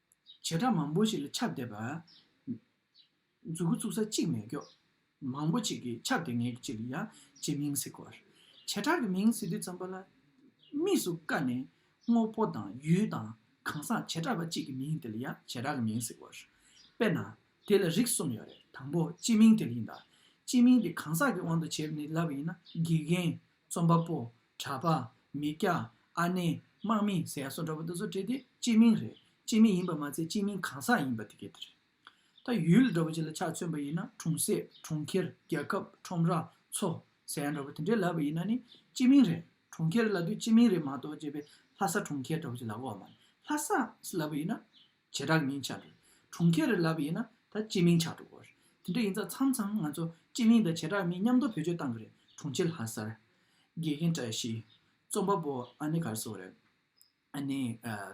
བྱེ་བྲག་མང་པོ་ཞིག་ལ་ཁྱབ་བསྡད་པ། མཛུ་གུ་བཙུགས་ས་གཅིག་མེད་སྐྱོ། མང་པོ་ཞིག་གིས་ཁྱབ་བསྡད་ངེས་ཀྱི་ཅིག་ལ་ཡང་ཅེས་མིང་གཟིགས་སྐོར། བྱེ་བྲག་གི་མིང་གཟིགས་དུས་ཙམ་པོ་ལ། དམིགས་སུ་བཀར་ནས་དངོས་པོ་དང་ཡུལ་དང་གང་ཟག་བྱེ་བྲག་པ་གཅིག་གི་མིང་དེ་ལ་ཡང་བྱེ་བྲག་གི་མིང་གཟིགས་སྐོར། དཔེར་ན། དེ་ལ་རིགས་གསུམ་ཡོད་རེད་དང་པོ་སྤྱི་མིང་དེ་ཡིན་ད། སྤྱི་མིང་དེ་གང་ཟག་གི་དབང་དུ་བྱས་པ་ནི་ལབ་ཡིན་ན་དགེ་རྒན། རྩོམ་པ་པོ། གྲྭ་པ། མི་སྐྱ། ཨ་ནེ། དམག་མི། ཟེར་ཡག་སོགས་འདྲ་པོ་འདི་ཚོ་བྲིས་ཏེ་སྤྱི་མིང་རེད་སྤྱི་མིང་ཡིན་པ་མ་ཚད་སྤྱི་མིང་གང་ཟག་ཡིན་པ་དེ་ག་དེ་རེད། ད་ཡུལ་འདྲ་པོ་ཅིག་ལ་ཆ་མཚོན་པ་ཡིན་ན་གྲོང་གསེབ་གྲོང་ཁྱེར་རྒྱལ་ཁབ་ཁྲོམ་ར་མཚོ་ཟེར་ཡག་འདྲ་པོ་དེ་འདྲའི་ལབ་པ་ཡིན་ན་ནི་སྤྱི་མིང་རེད་གྲོང་ཁྱེར་ལབ་དུས་སྤྱི་མིང་རེད་མ་གཏོགས་བྱས་པའི་ལྷ་ས་གྲོང་ཁྱེར་འདྲ་པོ་ཅིག་ལབ་འོག་མ་ལྷ་ས་ལབ་པ་ཡིན་ན་བྱེ་བྲག་མིང་བྱ་རེད། གྲོང་ཁྱེར་རེ་ལབ་ཡིན་ན་ད་སྤྱི་མིང་ཆགས་འགྲོ་དགོས་རེད། དེ་འདྲ་ཡིན་ཙང་མཚམས་མཚམས་ང་ཚོ་སྤྱི་མིང་དང་བྱེ་བྲག་མིང་མཉམ་འདོགས་བེད་སྤྱོད་གཏང་གི་རེད་གྲོང་ཁྱེར་ལྷ་སར། དགེ་རྒན་བཀྲ་ཤིས། རྩོམ་པ་པོ་ཨ་ནེ་གར་སོང་རེད། ཨ་ནེ།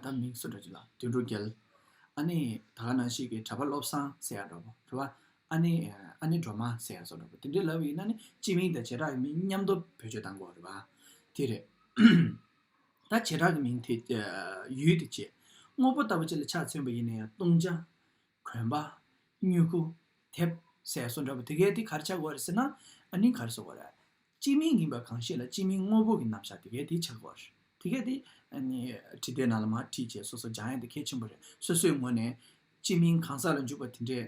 ད་མིང་གསོན་འགྲོ་གི་ལ་དུད་འགྲོ་རྒྱལ། ཨ་ནེ། ད་ག་ནང་ཞིག་གི་གྲྭ་པ་བློ་བཟང་ཟེར་ཡག་འགྲོ་པོ་དེ་བ། ཨ་ནེ། ཨ་ནེ་སྒྲོལ་མ་ཟེར་ཡག་སོང་འགྲོ་པོ་དེ་འདྲ་ལབ་ཡིན་ན་ནི་སྤྱི་མིང་དང་བྱེ་བྲག་མིང་མཉམ་འདོགས་བེད་སྤྱོད་གཏང་དགོས་རེད་བ། དེ་རེད། ད་བྱེ་བྲག་གི་མིང་དེ་ཡུལ་དུ་བྱེད། དངོས་པོ་ལྟ་བུ་ཅི་ལ་ཆ་མཚོན་པ་ཡིན་ན་ཡང་བཏུང་བྱ། གོན་པ། སྨྱུ་གུ། དེབ། ཟས་སོགས་འདྲ་བོ་དེ་གས་དེ་གར་ཆགས་འོར་ཟེར་ན། ནི་གར་སོགས་འོར། སྤྱི་མིང་ཡིན་པ་གང་ཞིག་ལ་སྤྱི་མིང་དངོས་པོ་གི་རྣམ་གཞག་དེ་གས་དེ་ཆགས་འོར། དེ་གས་དེ། ནི། བྲིས་ཏེ་ན་ལ་མ་བྲིས་བཅས་སོ་སོ་སྦྱང་ཡ་དེ་གལ་ཆེན་པོ་རེད་སོ་སོའི་ངོ་ནས། སྤྱི་མིང་གང་ཟག་ལ་འཇུག་པ་དེ་འདྲའི།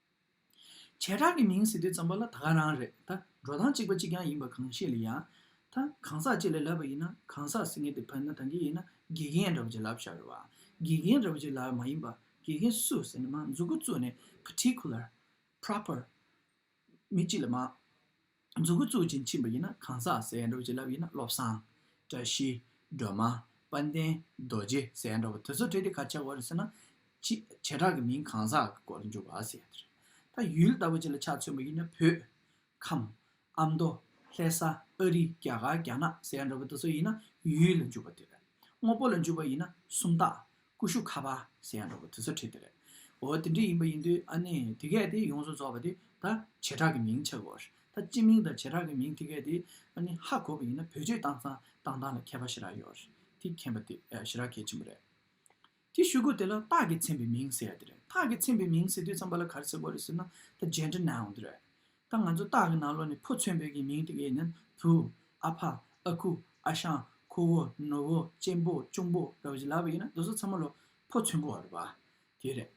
བྱེ་བྲག་གི་མིང་ཟེར་དུས་ཙམ་པ་ལ་ད་ག་རང་རེད་ད་འགྲོ་སྟངས་གཅིག་པ་གཅིག་རྐྱང་ཡིན་པ་གང་ཤེས་ལ་ཡང། ད་གང་ཟག་གཅིག་ལ་ལབ་པ་ཡིན་ན་གང་ཟག་སེང་གེ་དེ་ཕན་ན་ད་འདི་ཡིན་ན་དགེ་རྒན་འདྲ་བོ་ཅིག་ལབ་ཤག་རེད་བ། དགེ་རྒན་འདྲ་བོ་ཅིག་ལབ་མ་ཡིན་པ་དགེ་རྒན་སུ་ཟེར་ནས་མ་འཛུགས་འགོ་བཙུགས་ནས particular། proper། མི་གཅིག་ལ་མ། རྫུ་གུ་གཙུག་ཅིང་འཆིང་བ་ཡིན་ན་གང་ཟག་ཟས་འདྲ་བ་བྱིན་རླབས་ཡིན་ན་བློ་བཟང། བཀྲ་ཤིས། སྒྲོལ་མ། དཔལ་ལྡན། རྡོ་རྗེ་ཟས་འདྲ་བ་དེ་ཚོ་བྲིས་ཏེ་གར་ཆག་གོ་རེ་ཟེར་ན། བྱེ་བྲག་གི་མིང་གང་ཟག་གི་སྐོར་ལ་འཇུག་བ་ཟེར་ཡ་དེ་རེད། ད་ཡུལ་ལྟ་བུ་ཅིག་ལ་ཆ་མཚོན་པ་ཡིན་ན་བོད། ཁམས། ཨ་མདོ། ལྷེ་ས། ཨ་རི། རྒྱ་གར་རྒྱ་ནག་ཟས་འདྲ་བ་དེ་ཚོ་ཡིན་ན་ཡུལ་ལ་འཇུག་པ་དེ་རེད། དངོས་པོ་ལ་འཇུག་པ་ཡིན་ན་སུམ་རྟགས། ཀུ་ཤུ་ཁ་བ་ཟེར་ཡང་འགྲོ་གི་དུས་ཚོད་ཁྲིད་དེ་རེད། འོ་དེ་འདྲས་ཡིན་པ་ཡིན་དུས་ཨ་ནི་དེ་སྐད་དེ་ཡོངས་སུ་རྫོགས་པ་དེ་ད་བྱེ་བྲག་གི་མིང་ཆགས་དགོས། ད་སྤྱི་མིང་དང་བྱེ་བྲག་གི་མིང་དེ་སྐད་དེ་ཨ་ནི་ཧ་གོ་བ་ཡིན་ན་བོད་སྤྱིར་བཏང་ས་བཏང་སྟངས་ལ་མཁས་པ་ཞེ་དྲག་ཡོད། དེ་མཁྱེན་པ་དེ་ཞེ་དྲག་གལ་ཆེན་པོ་རེད། དེ་ཤོད་དགོས་དེ་ལ་རྟགས་ཀྱིས་མཚན་པའི་མིང་ཟེར་ཡ་དེ་རེད་རྟགས་ཀྱིས་མཚན་པའི་མིང་ཟེར་དུས་ཚངས་པ་ལ་ག་རེ་ཟེར་དགོས་རེད་ཟེར་ན་ད་ཇན་ཏྲི་ནའོ་དེ་རེད། ད་ང་ཚོ་སྟག་གི་ནང་ལོགས་ནས་ཕོ་མཚོན་བོད་ཀྱི་མིང་ཏིག་ཨེ་ནན། བུ། ཨ་ཕ། ཨ་ཁུ། ཨ་ཞང། ཁོ་བོ། ནུ་བོ། གཅེན་པོ། གཅུང་པོ། འདྲ་བ་ཞིག་ལབ་ཨེ་ཡིན་ན་རྡོ་སོལ་ཚ་མོ་ལོ། ཕོ་མཚོན་དགོ་བ་རེད་པ། དེ་རེད།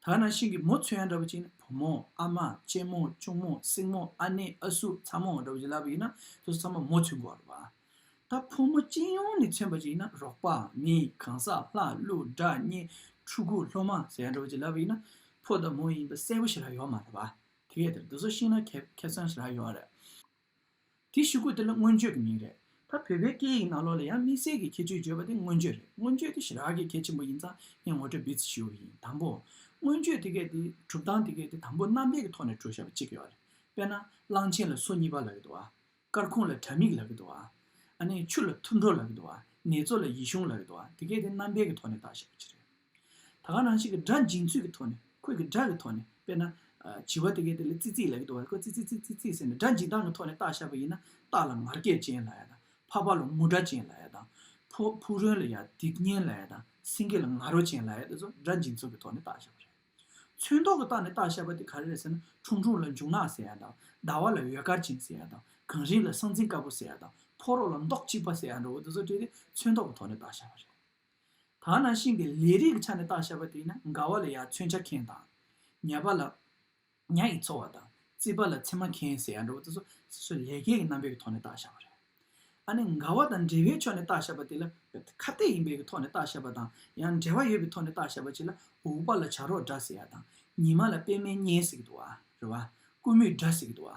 དག་ནང་ཤིང་གི་མོ་མཚོན་ཡང་འདྲ་བ་ཅིག་ཡིན་ན་བུ་མོ། ཨ་མ། གཅེན་མོ། གཅུང་མོ། སྲིང་མོ། ཨ་ནེ། ཨ་སུ། ཚ་མོ། འདྲ་བ་ཞིག་ལབ་ཨེ་ཡིན་ན་རྡོ་སོལ་ཚ་མོ་མོ་མཚོན་དགོ་བ་རེད་པ། ད་ཕོ་མོ་སྤྱི་ཡོངས་ནས་མཚོན་པ་ཅིག་ཡིན་ན་རོགས་པ། མི། གང་ཟག། ལྷ། ཀླུ། དགྲ། གཉེན། ཕྲུ་གུ། སློབ་མ། ཟེར་ཡང་འདྲ་བ་ཅིག་ལབ་ཨེ་ཡིན་ན། ཕོ་དང་མོ་ཡིན་པ་གསལ་པོ་ཞིག་ལ་ཡོད་མ་རེད་པ། དེ་གས་དེར་འདུག་ས་ཤིག་ན་ཁེ་ཁེ་བཙན་ཞེས་ལ་ཡོད་རེད། དེ་ཤི་གོ་དེ་ལ་མངོན་བརྗོད་ཀྱི་མིང་རེད། ད་བོད་པའི་སྐད་ཡིག་ནང་ལོགས་ལ་ཡང་དམིགས་བསལ་གྱི་ཁྱད་ཆོས་བརྗོད་པ་དེ་མངོན་བརྗོད་རེད་མངོན་བརྗོད་དེ་ཞི་རགས་ཀྱི་གལ་ཆེན་པོ་ཡིན་ཙང་ངས་ངོ་སྤྲོད་འབུལ་རྩིས་ཞུ་ཡི་ཡིན་དང་པོ། མངོན་བརྗོད་དེ་གས་དེ་གྲུབ་སྟངས་དེ་གས་དེ་དང་པོ་རྣམ་པས་ཀྱི་ཐོག་ནས་བྲོ་བྱ་བ་གཅིག་ཡོད་རེད་དཔེར་ན་གླང་ཆེན་ལ་སོ་གཉིས་པ་ལ་ཡོད་དོ། སྐར་ཁུང་ལ་དྲ་མིག་ལག་གི་འདུག་ཨ་ནེ་ཆུ་ལ་ཐུར་འགྲོ་ལག་གི་འདུག་ནེ་ཙོ་ལ་ཡིད་གཞུངས་ལག་གི་འདུག་དེ་སྐད་དེ་རྣམ་པའི་གི་ཐོག་ནས་བཏགས་ཞེས་པ་ཅི་རེད། ད་ག་རང་ཞིག་གི་སྒྲ་འབྱིན་ཚུལ་གི་ཐོག་ནས་ཁོས་གི་སྒྲ་གི་ཐོག་ནས་དཔེར་ན། བྱི་བ་དེ་སྐད་དེ་ལ་ཙི་ཙི་ལག་གི་འདུག་ཨ་ཁོས་ཙི་ཙི་ཙི་ཙི་ཙི་ཟེར་ནས་སྒྲ་འབྱིན་སྟངས་གི་ཐོག་ནས་བཏགས་ཞེས་པ་ཡིན་ན་སྟག་ལ་ངར་སྐད་ཅན་ལ་ཡ་དང་ཕག་པ་ལ་ངུ་སྒྲ་ཅན་ལ་ཡ་དང། ཕུག་རོན་ལ་ཡ་སྡིག་གཉེན་ལ་ཡ་དང་སེང་གེ་ལ་ང་རོ་ཅན་ལ་ཡ་དེ་ཚོ་སྒྲ་འབྱིན་ཚུལ་གི་ཐོག་ནས་བཏགས་ཞེས་པ་རེད། ཚོན་མདོག་གི་རྟགས་ནི་རྟགས་ཞེས་པ་དེ་ག་རེ་རེད་ཟེར་ན་ཁྲུང་ཁྲུང་ལ་འབྱུང་ནག་ཟེར་ཡ་དང་ཟླ་བ་ལ་ཡོལ་དཀར་ཅན་ཟེར་ཡ་དང་གངས་རིའི་ལ་ཟང་ཟིང་དཀར་པོ་ཟེར་ཡ་དང་ཕོ་རོག་ལ་མདོག་གཅིག་པ་ཟེར་ཡ་འདྲ་བོ་འདི་ཚོ་བྲིས་ཏེ་ཚོན་མདོག་གི་ཐོག་ནས་རྟགས་བྱ་བ་རེད། ཐ་ན་ཤིང་གི་ལས་རིགས་ཀྱི་ཆ་ནས་རྟགས་བྱ་བ་དེ་ཡིན་ན་མགར་བ་ལ་ཡར་ཚོན་ཆ་ཁེངས་དང། ཉལ་པ་ལ། ཉྭ་ཡིས་འཚོ་བ་དང་རྩིས་པ་ལ་ཚེར་མ་ཁེན་ཟེར་ཡ་འདྲ་བོ་དེ་ཚོ་སོ་སོའི་ལས་ཀའི་རྣམ་པའི་ཐོག་ནས་བརྟག་བཞག་པ་རེད། ཨ་ནི་འགལ་བ་དང་འབྲེལ་བའི་ཕྱོགས་ནས་བརྟག་བཞག་པ་དེ་ལ་ཁ་གཏད་ཡིན་པའི་གི་ཐོག་ནས་བརྟག་བཞག་པ་དང་ཡང་འབྲེལ་བ་ཡོད་པའི་ཐོག་ནས་བརྟག་བཞག་པ་གཅིག་ལ་འུག་པ་ལ་བྱ་རོག་འདྲ་ཟེར་ཡ་དང་ཉི་མ་ལ་པད་མའི་གཉེན་ཟེར་གི་འདུག་བ་རེད་བ་ཀུ་མུད་འདྲ་ཟེར་གི་འདུག་བ་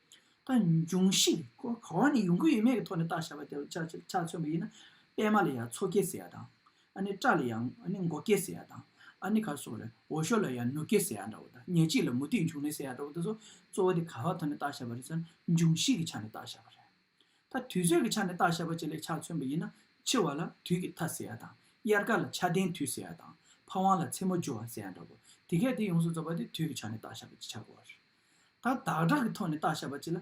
དང། འབྱུང་བཞིས་གོ་བ་ནི་ཡོང་གི་ཡོད་མེད་ཀྱི་ཐོག་ནས་བརྟག་བྱ་བ་དེ་ཆ་མཚོན་པ་ཡིན། པད་མ་ལ་ཡང་མཚོ་སྐྱེས་ཟེར་ཡ་དང། སྤྲ་ལ་ཡང་མགོ་སྐྱེས་ཟེར་ཡ་དང། ག་སོགས་ལས། འོ་ཞོ་ལ་ཡང་ནུ་སྐྱེས་ཟེར་ཡ་འདྲ་བོ་དང། ཉལ་ཁྲི་ལ་མུ་ཏིག་འབྱུང་ནི་ཟེར་ཡ་འདྲ་བོ་དེ་ཚོ་གཙོ་བོ་དེ་ག་བ་ཐོག་ནས་བརྟག་བྱ་བ་རེད་ཟེར་ན་འབྱུང་བཞིས་ཀྱི་ཆ་ནས་བརྟག་བྱ་བ་རེད། ད་དུས་ཚོད་ཀྱི་ཆ་ནས་བརྟག་བྱ་བ་བཅས་ལས་ཆ་མཚོན་པ་ཡིན། འཆི་བ་ལ་དུས་ཀྱི་མཐའ་ཟེར་ཡ་དང། དབྱར་ཁ་ལ་ཆར་ལྡན་དུས་ཟེར་ཡ་དང། ཕ་ཝང་ལ་མཚན་མོ་སྦྱོར་བ་ཟེར་ཡ་འདྲ་བོ། དེ་གས་དེ་ཡོངས་སུ་རྫོགས་པ་དེ་དུས་ཀྱི་ཆ་ནས་བརྟག་བྱ་བ་ཅི་ཆ་གོ་བ་རེད། ད་བདག་གྲགས་ཀྱི་ཐོག་ནས་བརྟག་བྱ་བ་གཅིག་ལ།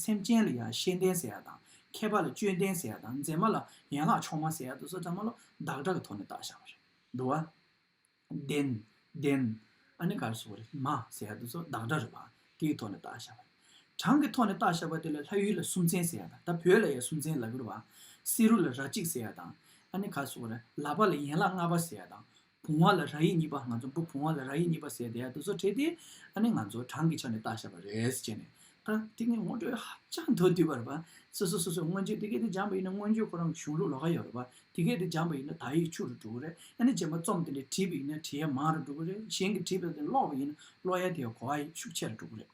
སེམས་ཅན་ལ་ཡང་ཤེས་ལྡན་ཟེར་ཡ་དང། མཁས་པ་ལ་སྤྱོད་ལྡན་ཟེར་ཡ་དང་མཛེས་མ་ལ་ཡན་ལག་མཆོག་མ་ཟེར་ཡ་དུ་སོ་ཙམ་མ་ལོ་བདག་གྲགས་ཀྱི་ཐོག་ནས་བརྟག་བྱ་བ་རེད་འདུག་བ། བདེན། བདེན། ཨ་ནི་གར་སོགས་རེད་མ་ཟེར་ཡ་དུ་སོ་བདག་གྲགས་རེད་བ། དེའི་ཐོག་ནས་བརྟག་བྱ་བ་རེད། གྲངས་ཀྱི་ཐོག་ནས་བརྟག་བྱ་བ་དེ་ལ་ལྷ་ཡུལ་ལ་སུམ་ཚན་ཟེར་ཡ་དང་ད་བོད་ལ་ཡང་སུམ་ཚན་ལབ་ཡོད་བ། བསེ་རུ་ལ་ར་གཅིག་ཟེར་ཡ་དང། ཨ་ནི་གར་སོགས་རེད་ལ་བ་ལ་ཡན་ལག་ལྔ་པ་ཟེར་ཡ་དང། བུང་བ་ལ་ར་ཡིག་གཉིས་པ་ང་ཚོ་འབུ་བུང་བ་ལ་ར་ཡིག་གཉིས་པ་ཟེར་དེ་དུ་སོ་ཁྲེས་ཏེ་ཨ་ནི་ང་ཚོ་གྲངས་ཀྱི་ཆ་ནས་བརྟག་བཞག་པ་རེད་ཟེར་བྱས་ནས་ད་ཏིག་ནི་ངོ་སྤྲོད་ཧ་ཅང་མདོར་བསྡུས་པ་རེད་པ། སོ་སོ་སོ་སོས་མངོན་བརྗོད་དེ་སྐད་དུ་སྦྱངས་པ་ཡིན་ན་མངོན་བརྗོད་ཁོ་རང་གི་གཞུང་ལུགས་ལོགས་ཀ་ཡོད་རེད་པ། དེ་སྐད་དུ་སྦྱངས་པ་ཡིན་ན་དག་ཡིག་ཆུ་རུ་འགྲོ་གི་རེད་ཨ་ནི་རྗེས་མ་རྩོམ་དེ་འདྲ་བྲིས་པ་ཡིན་ན་བྲིས་ཡ་མང་རུ་འགྲོ་གི་རེད་གཞན་གྱིས་བྲིས་པ་དེ་ཀློག་པ་ཡིན་ན་ཀློག་ཡ་དེའི་གོ་བ་ཤུགས་ཆེ་རུ་འགྲོ་གི་རེད།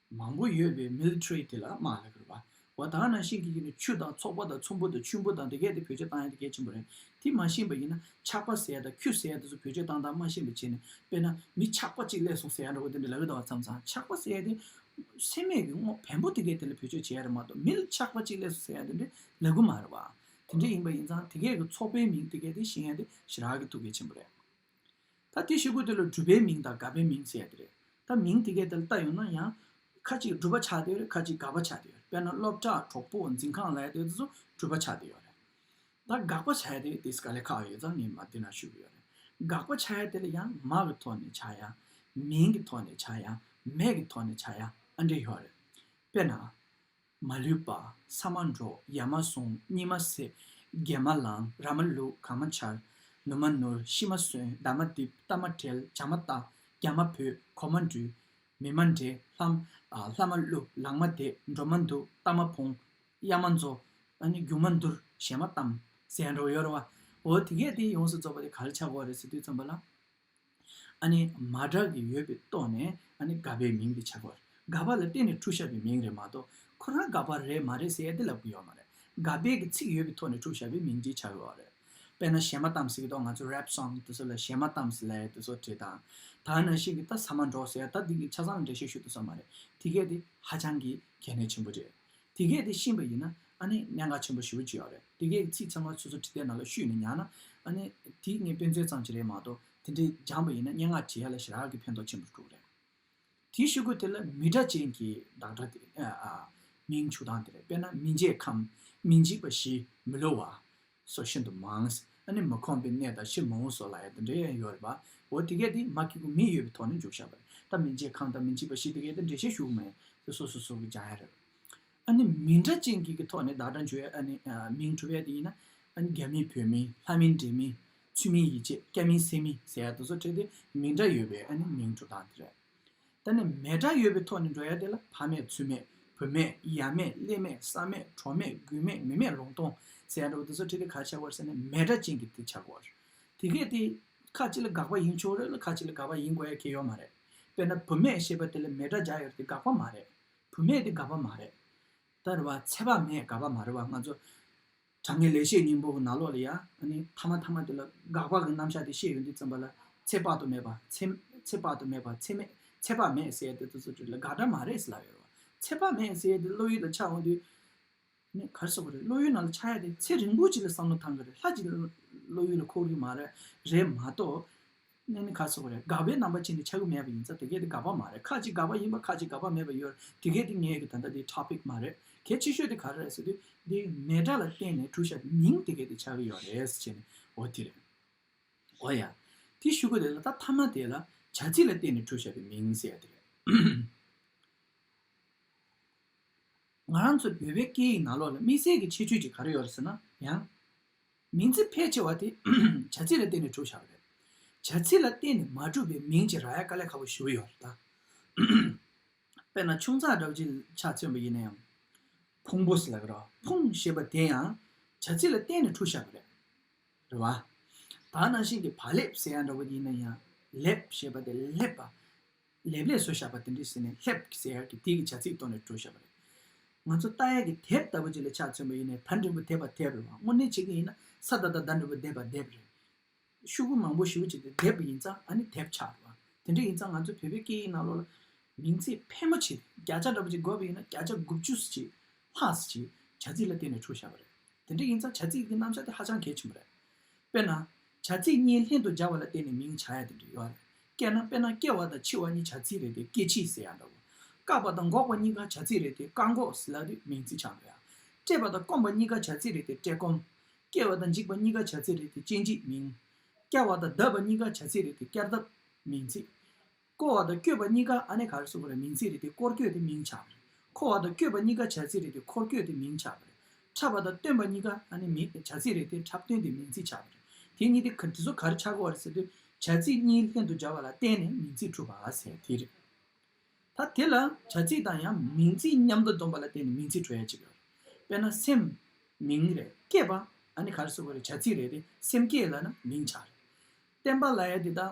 མང་པོ་ཡོད་པའི་མིལ་ཁྲི་དེ་ལ་དམག་ལས་དགོས་པ་བ་དག་ནང་བཞིན་གྱི་ཡིན་ནི་ཆུ་དང་ཚོགས་པ་དང་ཚོམ་བུ་དང་ཆུན་པོ་དང་དེ་གས་དེ་བོད་ཆས་བཏང་ཡ་དེ་གས་ཆེན་པོ་རེད་དེ་མ་ཤེས་པ་ཡིན་ན་ཆགས་པ་ཟེ་ཡ་དང་ཁྱུ་ཟེ་ཡ་དེ་ཚོ་བོད་ཆས་བཏང་སྟངས་མ་ཤེས་པའི་ཆེད་ནས་དཔེར་ན་མི་ཆགས་པ་གཅིག་ལས་སོང་ཟེ་ཡ་འདྲ་བོ་དེ་འདྲ་ལབ་ཡོད་དང་བ་ཚང་ཚང་ཆགས་པ་ཟེ་ཡ་དེ་སེམས་མེད་ཀྱི་དངོས་བེམ་པོ་དེ་གས་དེ་ལ་བོད་ཆས་བྱེད་ཡ་རེད་མ་གཏོགས་མིལ་ཆགས་པ་གཅིག་ལས་སོང་ཟེ་ཡ་དེ་འདྲ་ལབ་གི་མ་རེད་བ། དེ་འདྲ་ཡིན་པ་ཡིན་ཚང་དེ་གས་གི་ཚོགས་པའི་མིང་དེ་གས་དེ་ཤེས་ཡ་དེ་ཞི་རགས་ཀྱི་ཐུགས་གས་ཆེན་པོ་རེད། ད་དེ་ཤེས་དགོས་དེ་ལ་སྒྲུབ་པའི་མིང་དང་དགག་པའི་མིང་ཟེར་ཡ་དེ་རེད། ད་མིང་དེ་གས་དེ་ལ་བལྟ་ཡོང་ན་ཡང། ཁ་ཅིག་སྒྲུབ་པ་ཆགས་དེ་ཡོད་རེད་ཁ་ཅིག་དགག་པ་ཆགས་དེ་ཡོད་རེད་དཔེར་ན་སློབ་གྲྭ་གྲོགས་པོ་འཛིན་ཁང་ལ་ཡ་དེ་ཚོ་སྒྲུབ་པ་ཆགས་དེ་ཡོད་རེད། ད་དགག་པ་ཆགས་ཡ་དེ་དེ་ག་ལས་ཁག་ཡོད་ཙང་ངས་མ་བསྡུས་ན་ཤུ་གི་ཡོད་རེད། དགག་པ་ཆགས་ཡ་དེ་ལ་ཡང་མ་གི་ཐོག་ནས་ཆགས་ཡ། མིང་གི་ཐོག་ནས་ཆགས་ཡ། མེད་ཀྱི་ཐོག་ནས་ཆགས་ཡ་ཨ་འདྲེ་ཡོད་རེད། དཔེར་ན། མ་ལུས་པ་ས་མ་འགྲོ་ཡར་མ་སོང་གཉིས་མ་སད་རྒྱལ་མ་ལང་ར་མ་ལུག་གང་མ་འཆར་ནུ་མ་ནུར་ཤི་མ་གསོན་མདའ་མ་རྡིབ་རྟ་མ་དྲེལ་བྱ་མ་བཏགས་རྒྱ་མ་བུད་གོ་མ་འདྲུད་མི་མ་འདྲེ་ལྷ་མ་བསླུ་ལག་མ་དེད་འགྲོ་མ་འདུག་རྟ་མ་འཕོང་གཡག་མ་འཛོ་རྒྱུག་མ་འདུར་ཞལ་མ་གཏམ་ཟས་འགྲོ་ཡོར་བ་འོ་དེ་གས་དེ་ཡོངས་སུ་རྫོགས་པ་དེ་ག་ལ་ཆག་གོ་རེད་ཟེར་དུས་རྩོམ་པ་ལ། ཨ་ནི་མ་བསྒྲགས་ཀྱི་ཡོད་པའི་ལྟོ་ནས་ཨ་ནི་དགའ་པའི་མིང་དེ་བྱ་དགོས་རེད་དགའ་པ་ལ་བརྟེན་ནས་ཕྲུག་ཞབས་པའི་མིང་རེད་མ་གཏོགས་ཁོ་རང་དགའ་པ་རེད་མ་རེད་ཟེར་ཡ་དེ་ལབ་གི་ཡོད་མ་རེད་དགའ་དཔལ་གྱི་ཚིག་ཡོད་པའི་ཐོག་ནས་ཕྲུག་ཞབས་པའི་མིང་དེ་བྱ་དགོས་རེད་དཔེར་ན་ཞེ་མ་གཏམ་ཟེར་གི་ཐོག་ང་ཚོ་རེབ་སོང་དེ་ཚོ་ལ་ཞེ་མ་གཏམ་ཟེར་ལེ་དེ་ཚོ་བྲིས་དང་ད་ན་ཤིག་གི་ད་ཟ་མ་འགྲོ་ཟེར་ད་དེ་གི་ཆ་ཚང་ལ་འགྲེལ་བཤད་ཞུ་ཐུབ་ས་མ་རེད་དེ་གས་དེ་ཧ་ཅང་གི་གལ་གནད་ཆེན་པོ་རེད། དེ་སྐད་དེ་ཤེས་པ་ཡིན་ན་གནད་འགག་ཆེན་པོ་ཞེ་བོ་ཅི་ཡང་རེད་དེ་སྐད་ཀྱི་ཚིག་ཚང་མ་སོ་སོ་བྲིས་ཏེ་ནང་ལ་ཤུས་ནས་མྱངས་ན་དེ་ངའི་དཔེ་མཚོན་ཙམ་གྱི་རེད་མ་གཏོགས་དེ་འདྲའི་སྦྱངས་པ་ཡིན་ན་སྙན་ངག་བྲིས་ཡ་ལ་ཞེ་དྲག་གི་ཕན་ཐོག་ཆེན་པོ་འགྲོ་གི་རེད། དེའི་ཤོད་སྒོ་དེ་ལ་མི་སྒྲ་ཅན་གྱི་བདག་སྒྲ་དེ། མིང་བྱུག་སྟངས་དེ་རེད་དཔེར་ན་མི་མཇེད་ཁམས་མི་འཇིགས་པ་བཞི་མི་ལོ་བ། སོགས་ཤིན་ཏུ་མང། ཨ་ནི་མི་ཁོམ་པའི་གནས་དང་ཕྱིར་མོང་བོ་སོགས་ལ་ཡང་དེ་འདྲའི་ཡང་ཡོད་རེད་པ། འོ་དེ་གས་དེ་མ་ཁེགས་པོ་མི་ཡོད་པའི་ཐོག་ནས་འཇུག་བཞག་པ་རེད་ད་མི་མཇེད་ཁང་དང་མི་མཇིས་པ་ཞིག་དེ་གས་དེ་འདྲས་བཤད་ཞུགས་མེད་དེ་སོ་སོ་སོ་གས་སྦྱང་ཡ་རེད་པ། ཨ་ནི་མི་འདྲ་ཅན་གིས་གི་ཐོག་ནས་བདག་དྲང་བྱོས་ཨ་ནི་མིང་གྲུ་བས་དེ་ཡིན་ན་ཨ་ནི་རྒྱ་མིན་བོད་མིན་ལྷ་མིན་འདྲེ་མིན་ཚུལ་མིན་ཡིད་ཆེས་སྐྱ་མིན་སེར་མིན་ཟེར་ཡ་དེ་ཚོ་ཁྲེལ་དེ་མི་འདྲ་ཡོད་པས་ཨ་ནི་མིང་གྲུ་དང་དེ་རེད། ད་ནི་མེད་དགྲ་ཡོད་པའི་ཐོག་ནས་འགྲོ་ཡ་དེ་ལ་ཕ་མེད་ཚུལ་མེད་བུ་མེད་ཡབ་མེད་ཀླད་མེད་བསམ་མེད་གྲོགས་མེད་རྒུད་མེད་མི་མེད་ལུང་སྟོང་ཟེར་ཡ་འདྲ་བོ་འདི་ཚོ་ཁྲིད་དེ་ག་ཆགས་པར་ཟེར་ནས་མེད་དགྲ་ཅན་གྱི་དེ་ཆགས་དགོས་དེ་གས་དེ་ཁ་ཅིག་ལ་དགག་པ་ཡིན་ཆོག་རེད་ལ་ཁ་ཅིག་ལ་དགག་པ་ཡིན་དགོས་ཡ་ཁྱེད་ཡོད་མ་རེད་དཔེར་ན་བུ་མེད་ཞེས་པ་དེ་ལ་མེད་དགྲ་བྱ་ཡོད་དེ་དགག་པ་མ་རེད་བུ་མེད་དེ་དགག་པ་མ་རེད་ད་རེད་བ་ཚད་པ་མེད་དགག་པ་མ་རེད་བ་ང་ཚོ། དྲང་ངེས་ལེགས་བཤད་སྙིང་པོ་ནག་ལོག་ལ་ཡང་ཐ་མ་ཐ་མ་དེ་ལ་དགག་པ་གི་རྣམ་གཞག་དེ་ཤེས་ཡོན་དུ་བརྩམས་པ་ལ་ཚད་དཔག་ཏུ་མེད་པ་ཚད་དཔག་ཏུ་མེད་པ་ཚད་མེད་ཚད་དཔག་མེད་གསལ་དེ་ཚོ་ཚོ་དེ་ལ་དགག་སྒྲ་མ་རེད་ཟེར་ལབ་ཡོད་རེད་ཚད་དཔག་མེད་གསལ་དེ་བློ་ཡུལ་ལ་ཆགས་འོང་དུས་ནས་གར་སོང་བ་རེད་བློ་ཡུལ་ནང་ལ་ཆགས་ཡ་དེ་ཚེ་རིང་པོ་ཅིག་ལ་བསམ་བློ་ཐང་གི་རེད་ལྷ་ཅིག་བློ་ཡུལ་ལ་འཁོར་གི་མ་རེད་མ་གཏོགས། གནས་ནི་ཁ་སོགས་རེད་དགག་པའི་རྣམ་པ་ཅན་དེ་ཆ་ཡུལ་མེད་པ་ཡིན་ཙང་དེ་གས་དེ་དགག་པ་མ་རེད་ཁ་ཅིག་དགག་པ་ཡིན་པ་ཁ་ཅིག་དགག་པ་མེད་པ་ཡོད་རེད་དེ་གས་དེ་ངས་ཀྱི་ད་ལྟ་དེ་ཐོ་པིག་མ་རེད་གལ་ཆེ་ཤོས་དེ་ག་རེ་རེད་ཟེར་དུས་དེ་མེད་དགྲ་ལ་བརྟེན་ནས་གྲུ་ཤ་དེ་མིང་དེ་གས་དེ་ཆགས་ཀྱི་ཡོད་རེད་ཟེར་བྱས་ནས་འོ་དེ་རེད། འོ་ཡ། དེ་ཤུ་གུ་རེད་ལ་ད་མཐའ་མ་དེ་ལ་བྱ་ཚིག་ལ་བརྟེན་ནས་གྲུ་ཤ་དེ་མིང་བསལ་དེ་རེད། ང་རང་ཚོ་བོད་པའི་སྐད་ཡིག་ནང་ལོགས་ལ་དམིགས་བསལ་གྱི་ཁྱད་ཆོས་ཅིག་ག་རེ་ཡོད་རེད་ཟེར་ན་ཡང། མིང་ཚིག་ཕལ་ཆེ་བ་དེ་བྱ་ཚིག་ལ་བརྟེན་ནས་གྲུབ་བྱ་བ་རེད། བྱ་ཚིག་ལ་བརྟེན་ནས་མ་གྲུབ་པའི་མིང་གཅིག་རག་ཡ་དཀའ་ལས་ཁག་པོ་ཞུ་གི་ཡོད་རེད་ད། དཔེར་ན་ཆུང་ཚགས་སྒྲ་བརྗིད་ཆགས་མཚོན་པ་ཡིན་ན་ཡང། ཕུང་པོ་ཟེར་ལ་ཀིར་ཕུང་ཞེས་པ་དེ་ཡང་བྱ་ཚིག་ལ་བརྟེན་ནས་གྲུབ་བྱ་བ་རེད། རེད་བ། ད་ནང་བཞིན་གྱི་བ་ལེབ་ཟེར་ཡ་འདྲ་བོ་ཡིན་ན་ཡང་ལེབ་ཞེས་པ་དེ་ལྷེབ་པ། ལེབ་ལེབ་བཟོ་བཞག་པ་དེ་འདྲི་ཟེར་ནས་ལྷེབ་ཀྱི་ཟེར་ཡག་གི་དེ་གི་བྱ་ཚིག་བཏོན་ནས་བྲོ་བཞག་པ་རེད། ང་ཚོ་རྟ་ཡག་གི་དེབ་ལྟ་བུ་ཅིག་ལ་ཕྱག་མཚོན་པ་ཡིན་ནས་ད་འབྲིང་པོ་དེབ་པ་དེབ་རེད་བ་དངོས་གནས་བྱེད་ཀྱི་ཡིན་ན་ས་ད་ད་ད་འབྲིང་པོ་དེབ་པ་དེབ་རེད། ཤུག་གུ་མང་པོ་ཞིབ་བྱས་ཏེ་དེབ་ཡིན་ཙང་ཨ་ནི་དེབ་ཆགས་རེད་བ་དེ་འདྲ་ཡིན་ཙང་ང་ཚོའི་བོད་པའི་སྐད་ཡིག་ནང་ལོགས་ལ་མིང་ཚིག་ཕལ་མོ་ཆེ་བརྒྱ་ཆ་འདྲ་པོ་ཅིག་འགོད་པ་ཡིན་ན་བརྒྱ་ཆ་དགུ་བཅུ་སུ་གཅིག་ལྷག་སུ་གཅིག་བྱ་ཚིག་ལ་བརྟེན་ནས་བྲོ་བཞག་པ་རེད། དེ་འདྲ་ཡིན་ཙང་བྱ་ཚིག་གི་རྣམ་གཞག་དེ་ཧ་ཅང་གལ་ཆེན་པོ་རེད། དཔེར་ན། བྱ་ཚིག་གཉིས་ལྷན་དུ་སྦྱར་བ་ལ་བརྟེན་ནས་མིང་བྱ་ཡ་དེ་འདྲ་ཡོད་རེད། སྐད་ན་དཔེར་ན་སྐྱེ་བ་དང་འཆི་བ་གཉིས་བྱ་ཚིག་རེད་དེ་སྐྱེ་འཆི་ཟེར་ཡ་འདྲ་བོ། བཀག་པ་དང་འགོག་པ་གཉིས་ཀ་བྱ་ཚིག་རེད་དེ་བཀག་འགོག་ཟེར་ལ་དེ་མིང་ཚིག་ཆགས་འགྲོ་ཡ། བཀྲེས་པ་དང་སྐོམ་པ་གཉིས་ཀ་བྱ་ཚིག་རེད་དེ་བཀྲེས་སྐོམ། སྐྱེ་བ་དང་འཇིག་པ་གཉིས་ཀ་བྱ་ཚིག་རེད་དེ་སྐྱེ་འཇིག་མིང། བསྐྱར་བ་དང་བརྡབ་པ་གཉིས་ཀ་བྱ་ཚིག་རེད་དེ་བསྐྱར་བརྡབ། མིང་ཚིག། བསྐོར་བ་དང་བསྐྱོད་པ་གཉིས་ཀ་ཨ་ནེ་གྷ་རེ་སོགས་པ་རེ་མིང་ཚིག་རེ་སྟེ་བསྐོར་བསྐྱོད་དེ་མིང་ཆགས་པ་རེད། འཁོར་བ་དང་བསྐྱོད་པ་གཉིས་ཀ་བྱ་ཚིག་རེ་སྟེ་འཁོར་བསྐྱོད་དེ་མིང་ཆགས་པ་རེད། འཁྲབ་པ་དང་སྟོན་པ་གཉིས་ཀ་ཨ་ནེ་མིང་བྱ་ཚིག་རེ་སྟེ་འཁྲབ་སྟོན་དེ་མིང་ཚིག་ཆགས་པ་རེད། དེ་གཉིས་དེ་ཚོ་ག་རེ་ཆགས་དགོས་བ་རེད་ཟེར་དུས་བྱ་ཚིག་གཉིས་ལྷན་དུ་སྦྱར་བ་ལ་བརྟེན་ནས་མིང་ཚིག་གྲུབ་པ་ཟེར་བ་དེ་རེད། ད་དེ་ལ་བྱ་ཚིག་དང་ཡང་མིང་ཚིག་མཉམ་དུ་འཛོམས་པ་ལ་བརྟེན་ནས་མིང་ཚིག་གྲུབ་ཡ་གཅིག་ཡོད་རེད། དཔེར་ན་སེམས། མིང་རེད། སྐྱེས་པ། ཨ་ནེ་གྷ་རེ་སོགས་པ་རེ་བྱ་ཚིག་རེ་སྟེ་སེམས་སྐྱེས་ལ་ན་མིང་ཆགས་རེད། བསྟན་པ་ལ་ཡ་དེ་དག་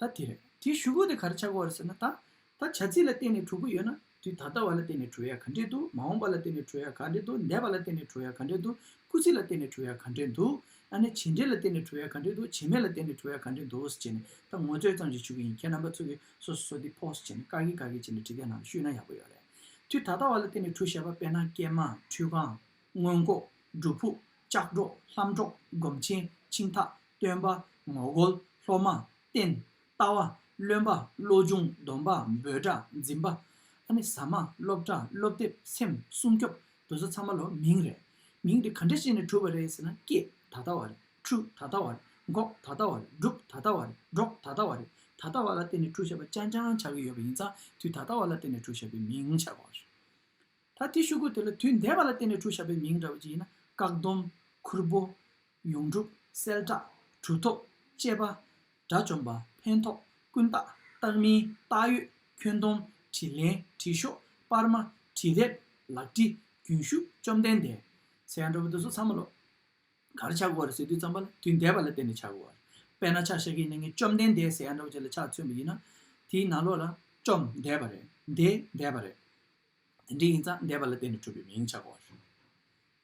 ད་དེ་རེད། དེ་ཞུ་གོ་དེ་ག་རེ་ཆགས་གོ་རེད་ཟེར་ན་ད། ད་བྱ་ཚིག་ལ་བརྟེན་ནས་དྲུག་པོ་ཡོད་ན། དུས་ད་ལྟ་བ་ལ་བརྟེན་ནས་དྲུག་ཡ་ག་འདྲེན་འདུག་མ་འོངས་པ་ལ་བརྟེན་ནས་དྲུག་ཡ་ག་འདྲེན་འདུག་འདས་པ་ལ་བརྟེན་ནས་དྲུག་ཡ་ག་འདྲེན་འདུག་སྐུལ་ཚིག་ལ་བརྟེན་ནས་དྲུག་ཡ་ག་འདྲེན་འདུག་ཨ་ནི་བྱེད་འབྲེལ་ལ་བརྟེན་ནས་དྲུག་ཡ་ག་འདྲེན་འདུག་བྱེད་མེད་ལ་བརྟེན་ནས་དྲུག་ཡ་ག་འདྲེན་འདུག་ཅེས་ནས་ད་ངོ་སྤྲོད་ཙམ་ཞིག་ཞུ་གི་ཡིན་ཁྱེད་རྣམ་པ་ཚོ་གིས་སོ་སོ་སོ་དེ་ཕོགས་སུ་བྱས་ནས་བཀག་གི་བཀག་གི་བྱས་ནས་དྲི་བརྒྱ་ནང་ལ་བཤུས་ན་ཡག་པོ་ཡོད་རེད། དུས་ད་ལྟ་བ་ལ་བརྟེན་ནས་དྲུག་བཤད་པ་དཔེར་ན་སྐྱེས་མ། ཁྲུས་ཁང། སྔོན་འགོག། སྒྲུབ་ཕུག། ལྕགས་སྒྲོག། ལྷམ་སྒྲོག། སྒོམ་ཆེན། མཆིང་ཐག། སྟོན་པ། ངོ་རྒོལ། སློབ་མ། བསྟན། ལྟ་བ། བློན་པ། བློ་སྦྱོང། སྡོམ་པ། འབོད་སྒྲ། འཛིན་པ། ཟ་མ། སློབ་གྲྭ། སློབ་དེབ། སེམས། སྲུང་སྐྱོབ། དུ་ས་ཚང་མ་ལོ་མིང་རེད། མིང་དེ་ག་འདྲ་བྱས་ནས་གྲུབ་པ་རེད་ཟེར་ན་སྐྱེས་ད་ལྟ་བ་རེད་ཁྲུ་ད་ལྟ་བ་རེད་འགོག་ད་ལྟ་བ་རེད་སྒྲུབ་ད་ལྟ་བ་རེད་སྒྲོག་ད་ལྟ་བ་རེད་ད་ལྟ་བ་ལ་བརྟེན་ནས་ཁྲུ་བྱ་བ་རྐྱང་རྐྱང་ཆགས་ཀྱི་ཡོད་པ་ཡིན་ཙང་དུས་ད་ལྟ་བ་ལ་བརྟེན་ནས་ཁྲུ་བྱ་བའི་མིང་ཆགས་པ་རེད། ད་དེ་ཤུ་གུ་དེ་ལ་དུས་འདས་པ་ལ་བརྟེན་ནས་གྲུ་བཞག་པའི་མིང་འདྲ་བ་ཅི་ཡིན་ན་བཀག་སྡོམ། ཁུར་པོ། ཡོངས་གྲུབ། གསལ་བསྒྲགས། གྲུ་ཐོབ། བཅད་པ། དགྲ་བཅོམ་པ། ཕན་ཐོགས། ཀུན་བཏགས། བཏགས་མིན། བཏགས་ཡོད། ཁྱོན་སྡོམ། དྲིས་ལན། དྲིས་ཤོག། སྤར་མ། དྲིས་རེབ། ལག་དྲི། རྒྱུན་ཞུགས། བཅོམ་ལྡན་འདས། ཟེར་ཡང་འགྲོ་བ་དེ་ཚོ་ཚང་མ་ལོག། གར་ཆགས་དགོས་རེད་ཟེར་དུས་ཙམ་པ་ལ་དུས་འདས་པ་ལ་བརྟེན་ནས་ཆགས་དགོས་རེད། དཔེར་ན་ཕྱག་ཞག་གིས་ནི་ངས་བཅོམ་ལྡན་འདས་ཟེར་ཡང་འདྲ་བ་ཅིག་ལ་ཕྱག་མཚོན་པ་ཡིན་ན། དེའི་ནང་ལོགས་ལ། བཅོམ། འདས་པ་རེད། འདས། འདས་པ་རེད། དེ་འདྲའི་ཡིན་ཙང་འདས་པ་ལ་བརྟེན་ནས་གྲུབ་པའི་མིང་བྱ་གོ་བར་ཞུ།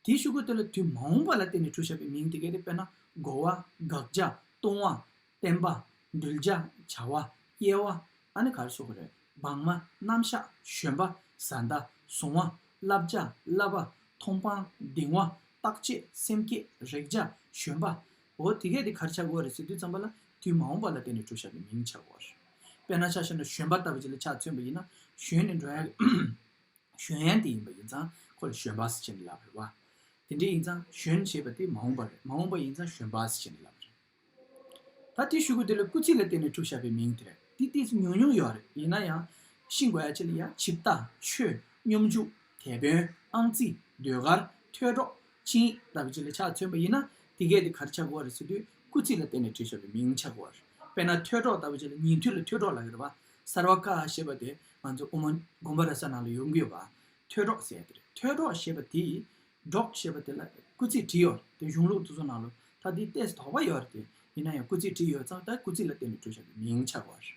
དེའི་ཤུགས་ཀྱིས་དེ་ལ་དུས་མ་འོངས་པ་ལ་བརྟེན་ནས་གྲུབ་བྱ་བའི་མིང་དེ་གས་ཏེ་དཔེར་ན་བསྒོ་བ། དགག་བྱ། ལྟུང་བ། བསྟན་པ། འདུལ་བྱ། བྱ་བ། སྐྱེ་བ། ཨ་ནི་གར་སོགས་ཀྱི་རེག་བག་མ། རྣམ་གཞག། བཞོན་པ། བཟའ་ཟླ། བཟུང་བ། བསླབ་བྱ། བསླབ་པ། མཐོང་སྤང། གདིང་བ། རྟག་ཆད། སེམས་བསྐྱེད། རེག་བྱ། བཞོན་པའོ། དེ་གས་ཏེ་གར་བྱ་གོ་བ་རེད་ཟེར་དུས་ཙམ་པ་ལ་དུས་མ་འོངས་པ་ལ་བརྟེན་ནས་གྲུབ་བྱ་བའི་མིང་བྱ་གོ་བར་ཞུ། དཔེར་ན་ཆ་ཤས་ན་བཞོན་པ་ལྟ་བུ་ཅིག་ལ་ཆ་མཚོན་པ་ཡིན་ན་བཞོན་ནི་འགྲོ་ཡང་བཞོན་ཡན་དེ་ཡིན་པ་ཡིན་ཙང་ཁོ་ལ་བཞོན་པའས་བྱེད་ནི་ལབ་རེད་བ། དེ་འདྲས་ཡིན་ཙང་བཞོན་ཞེས་པ་དེ་མ་འོངས་པ་རེད་མ་འོངས་པ་ཡིན་ཙང་བཞོན་པའས་བྱེད་ནི་ལབ་རེད། ད་དེ་ཞུ་གི་དེ་ལ་སྐུལ་ཚིག་ལ་བརྟེན་ནས་གྲུབ་བྱ་བའི་མིང་དེ་རེད་དེ་དེ་སུ་ཉུང་ཉུང་ཡོད་རེད་ཡིན་ན་ཡང་ཤིང་དགོས་ཡ་ཆེ་ལ་ཡ་བྱིབས་རྟ་མཆོད་སྙོམས་འཇུག་དེད་དཔོན་ཨང་རྩིས་ཟློས་གར་ཐོས་སྒྲོག་ཕྱིན། བདག་གི་ཆེད་ལས་ཕྱག་མཚོན་པ་ཡིན་ན་དེ་སྐད་དེ་གར་ཆག་གོ་བ་རེད་ཟེར་དུས་སྐུ་ཚིག་ལ་བརྟེན་ནས་བྲིས་ཆོག་པའི་མིང་ཆག་གོ་བ་རེད། དཔེར་ན་ཐོས་གྲོགས་ལྟ་བུ་ཅིག་ལ་ཉིན་ཐོས་ལ་ཐོས་གྲོགས་ལ་ཡོད་པ། གསར་བ་ཀ་ཞེས་པ་དེ་ང་ཚོ་དབུ་མ་དགོན་པ་ར་ས་ནང་ལ་ཡོང་གི་ཡོད་པ། ཐོས་གྲོགས་ཟེར་ཡ་དེ་རེད་ཐོས་གྲོགས་ཞེས་པ་དེ་ཡིས། གྲོགས་ཞེས་པ་དེ་ལ་སྐུ་ཚིག་བྲིས་ཡོད་རེད་དེ་གཞུང་ལུགས་སོ་སོ་ནང་ལོ་ཐ་དེའི་ལྟས་སུ་དོགས་པ་ཡོད་རེད་དེ་ཡིན་ན་ཡང་སྐུ་ཚིག་བྲིས་ཡོད་ཙང་ད་སྐུ་ཚིག་ལ་བརྟེན་ནས་བྲིས་ཆོག་པའི་མིང་ཆག་གོ་བ་རེད།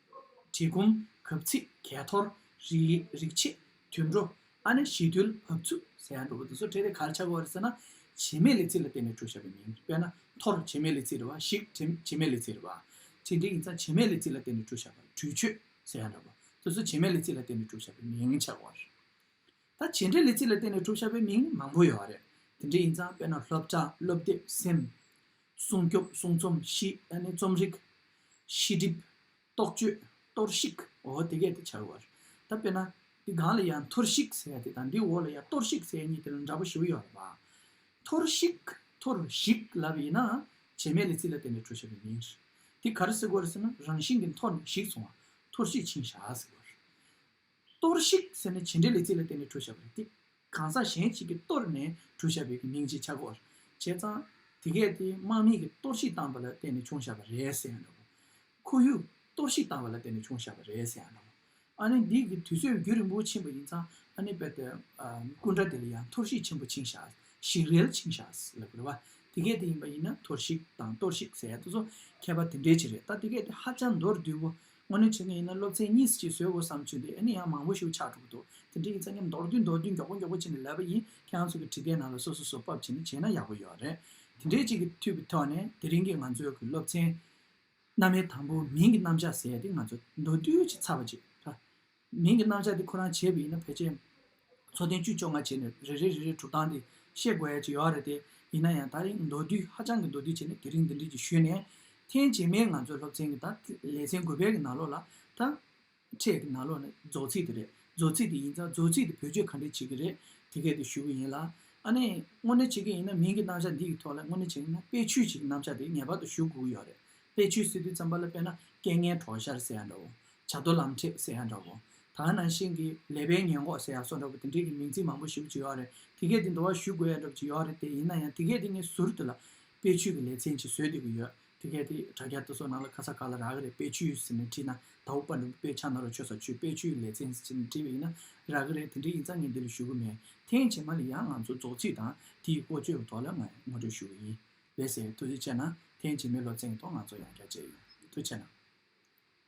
གྲི་གུམ། གབ་ཚིག་གས་ཐོར། རིག་བྱེད། དུད་འགྲོ། ཨ་ནེ་ཞི་དུལ་བབས་ཚུལ་ཟེར་ཡང་འགྲོ་བོ་འདི་ཚོ་གྲས་རེད་ག་ལ་ཆགས་གོ་རེད་ཟེར་ན། བྱེ་མའི་ལི་ཚིག་ལ་བརྟེན་ནས་གྲོས་བྱས་པའི་མིང་དཔེར་ན་ཐོར་བྱེ་མའི་ལི་ཚིག་རེད་བ་ཞིག་བྱེ་མའི་ལི་ཚིག་རེད་བ། ཚིག་འགྲེལ་ཡིན་ཙང་བྱེ་མའི་ལི་ཚིག་ལ་བརྟེན་ནས་གྲོས་བྱས་པ་གྲོས་ཆོད་ཟེར་ཡང་འདྲ་བོ་དེ་ཚོ་བྱེ་མའི་ལི་ཚིག་ལ་བརྟེན་ནས་གྲོས་བྱས་པའི་མིང་ཆགས་གོ་རེད། ད་བྱེ་འབྲེལ་ལི་ཚིག་ལ་བརྟེན་ནས་གྲོས་བྱས་པའི་མིང་མང་པོ་ཡོད་རེད་དེ་འདྲ་ཡིན་ཙང་དཔེར་ན་སློབ་གྲྭ་སློབ་དེབ་སེམས། སྲུང་སྐྱོབ་སྲུང་རྩོམ་ཞི་ཨ་ནི་རྩོམ་རིག། ཤེས་སྒྲིབ། རྟོག་དཔྱོད། གཏོར་བཤིག། འོ་དེ་གས་དེ་བྱར་བར། ད་དཔེར་ན། འདི་སྒང་ལ་ཡང་འཐོར་བཤིག་ཟེར་དེ་དང་འདིའི་འོག་ལ་ཡང་གཏོར་བཤིག་ཟེར་གཉིས་དེ་ལ་འདྲ་པོ་ཞིག་ཡོད་རེད་པ། འཐོར་བཤིག། འཐོར་བཤིག་ལབ་པ་ཡིན་ན། བྱེ་མའི་ལི་ཚི་ལ་བརྟེན་ནས་འཕྲོ་བྱེད་པ་ཡིན། དེ་ག་རེ་ཟེར་དགོས་རེད་ཟེར་ན་རང་བཞིན་གྱིས་འཐོར་ནས་བཤིག་སོང་བ། འཐོར་བཤིག་ཕྱིན་བཞག་ཟེར་བར། གཏོར་བཤིག་ཟེར་ནས་བྱེད་འབྲེལ་ལས་ཚིག་ལ་བརྟེན་ནས་གྲོས་བཤའ་བ་རེད་དེ། གང་ཟག་གཞན་གཅིག་གིས་གཏོར་ནས་གྲོས་བཤའ་བའི་མིང་ཅིག་ཆ་བགོ་བར་བྱས་ཙང། དེ་གས་དེ་དམག་མིང་གིས་གཏོར་བཤིག་བཏང་བ་ལ་བརྟེན་ནས་བྱུང་བཤའ་བ་རེད་ཟེར་ཡང་འདྲ་བོ། ཁོར་ཡུག་གཏོར་བཤིག་བཏང་བ་ལ་བརྟེན་ནས་བྱུང་བཤའ་བ་རེད་ཟེར་ཡང་འདྲ་བོ། ཨ་ནེ་འདི་གི་དུས་ཚོད་བརྒྱུད་རིང་པོ་ཕྱིན་པ་ཡིན་ཙང་ཨ་ནེ་པད་ཏའི་སྐུ་འདྲ་དེ་ལ་ཡང་འཐོར་བཤིག་ཆེན་པོ་ཆིངས་བཤའ་ཞིག་རལ་ཆིངས་བཤའ་ལབ་དགོས་རེད་བ། དེ་གས་དེ་ཡིན་པ་ཡིན་ན་འཐོར་བཤིག་དང་གཏོར་བཤིག་ཟེར་ཡ་ད་ཚོ་ཁྱད་པར་དེ་འདྲའི་ཆེ་རེད་ད་དེ་གས་དེ་ཧ་ཅང་མདོར་བསྡུས་པོ་དངོས་གནས་བྱེད་མཁན་ཡིན་ན་སློབ་ཚན་གཉིས་གཅིག་བཟོས་དགོས་བསམ་ཚུལ་དེ་ཨེ་ནི་ཡང་མང་པོ་ཞིག་ཆགས་འགྲོ་གི་འདུག་དེ་འདྲའི་ཡིག་ཚགས་ཉམས་མདོར་བསྡུས་མདོར་བསྡུས་མགྱོགས་པོ་མགྱོགས་པོ་བྱེད་ནས་ལབ་པ་ཡིན་ཁྱེད་རང་ཚོ་གི་བྲིས་སྐད་ནང་ལ་སོ་སོ་སོ་ཕབ་བྱེད་ནས་བྱས་ན་ཡག་པོ་ཡོད་རེད། དེ་འདྲའི་གཅིག་གི་ཐུགས་ཀྱི་ཐོག་ནས་དེ་རིང་གི་ང་ཚོའི་གི་སློབ་ཚན། རྣམ་དབྱེ་དང་པོ་མིང་གི་རྣམ་བཞག་ཟེར་ཏེ་ང་ཚོ་མདོར་བསྡུས་ཀྱིས་ཚར་བ་ཅིག་རེད། མིང་གི་རྣམ་བཞག་དེ་ཁོ་རང་བྱས་པ་ཡིན་ན་བོད་ཆས། མཚོ་གདན་བཅུ་བཅོ་ལྔ་བྱས་ནས་རེ་རེ་རེ་རེའི་གྲུབ་སྟངས་དེ་ཤེས་དགོས་ཡ་ཅི་ཡོད་རེད་དེ། ཡིན་ན་ཡང་ད་རིང་མདོ་བསྡུས་ཧ་ཅང་གི་མདོ་བསྡུས་བྱས་ནས་དེ་རིང་འདི་འདྲིའི་གྱི་ཞུས་ནས། ཐེངས་རྗེས་མའི་ང་ཚོའི་སློབ་ཚན་གྱི་ད་ལེ་ཚན་དགུ་པའི་གི་ནང་ལོགས་ལ། ད། ཕྲད་གི་ནང་ལོགས་ནས་རྫོགས་ཚིག་དེ་རེད་རྫོགས་ཚིག་དེ་ཡིན་ཙང་རྫོགས་ཚིག་དེ་བེད་སྤྱོད་ག་འདྲས་བྱེད་གི་རེད་དེ་སྐད་དེ་ཞུ་གི་ཡིན་ལ། ཨ་ནེ། དངོས་གནས་བྱེད་གི་ཡིན་ན་མིང་གི་རྣམ་བཞག་འདི་གི་ཐོག་ལ་དངོས་གནས་བྱེད་ན་དཔེ་ཆུས་བྱེད་གི་རྣམ་བཞག་དེ་ངེས་པར་དུ་ཞུ་དགོས་གི་ཡོད་རེད་དཔེ་ཆུས་སི་ཏུའི་རྩམ་པ་ལ་དཔེ་ན་སྐད་ངན་གྲོགས་ཤར་ཟེར་ཡ་འདྲ་བོ། བྱ་རྡོ་ལམ་ཁྲིད་ཟེར་ཡག་འདྲ་བོ། ད་ང་ནང་བཞིན་གྱི་ལས་པའི་ཉེན་འགོག་ཟེར་ཡག་སོགས་འདྲ་བོ་དེ་འདྲས་ཀྱི་མིང་ཚིག་མང་པོ་ཞུགས་ཅི་ཡོག་རེད་དེ་གས་དེ་འདྲ་བ་ཞུ་དགོས་ཡག་འདྲ་བོ་ཅི་ཡོག་རེད་དེ་ཡིན་ན་ཡང་དེ་གས་དེ་ངས་ཟུར་དེ་ལ་དཔེ་ཆུས་ཀྱི་ལས་ཚན་ཅིག་བཟོས་བསྡད་ཀྱི་ཡོད་དེ་གས་དེ་དྲ་རྒྱ་དེ་སོགས་ནང་ལ་ཁ་ས་ག་ལ་རག་གི་རེད་དཔེ་ཆུས་ཟེར་ནས་བྲིས་ན་ད་འུག་པ་འདྲ་བོ་དཔེ་ཆ་ནོར་བ་ཆོས་ས་ཆོས་དཔེ་ཆུས་ཀྱི་ལས་ཚན་ཟེར་ནས་བྲིས་པ་ཡིན་ན་རག་གི་རེད་དེ་འདྲས་ཡིན་ཙང་ངས་འདི་ལ་ཞུ་གི་མེད་ཐེངས་རྗེས་མ་ལ་ཡང་ང་ཚོ་རྫོགས་ཚིག་དང་དེ་ཡི་བཀོལ་སྤྱོད་ཀྱི་ཐོག་ལ་ངས་ངོ་སྤྲོད་ཞུ་གི་ཡིན་ལེ་ཟེར་ཐུགས་རྗེ་ཆེ་ན་ཐེངས་རྗེས་མའི་སློབ་ཚན་གྱི་ཐོག་ང་ཚོ་ཡང་བསྐྱར་མཇལ་ཡོང་ཐུགས་ཆེ་གནང།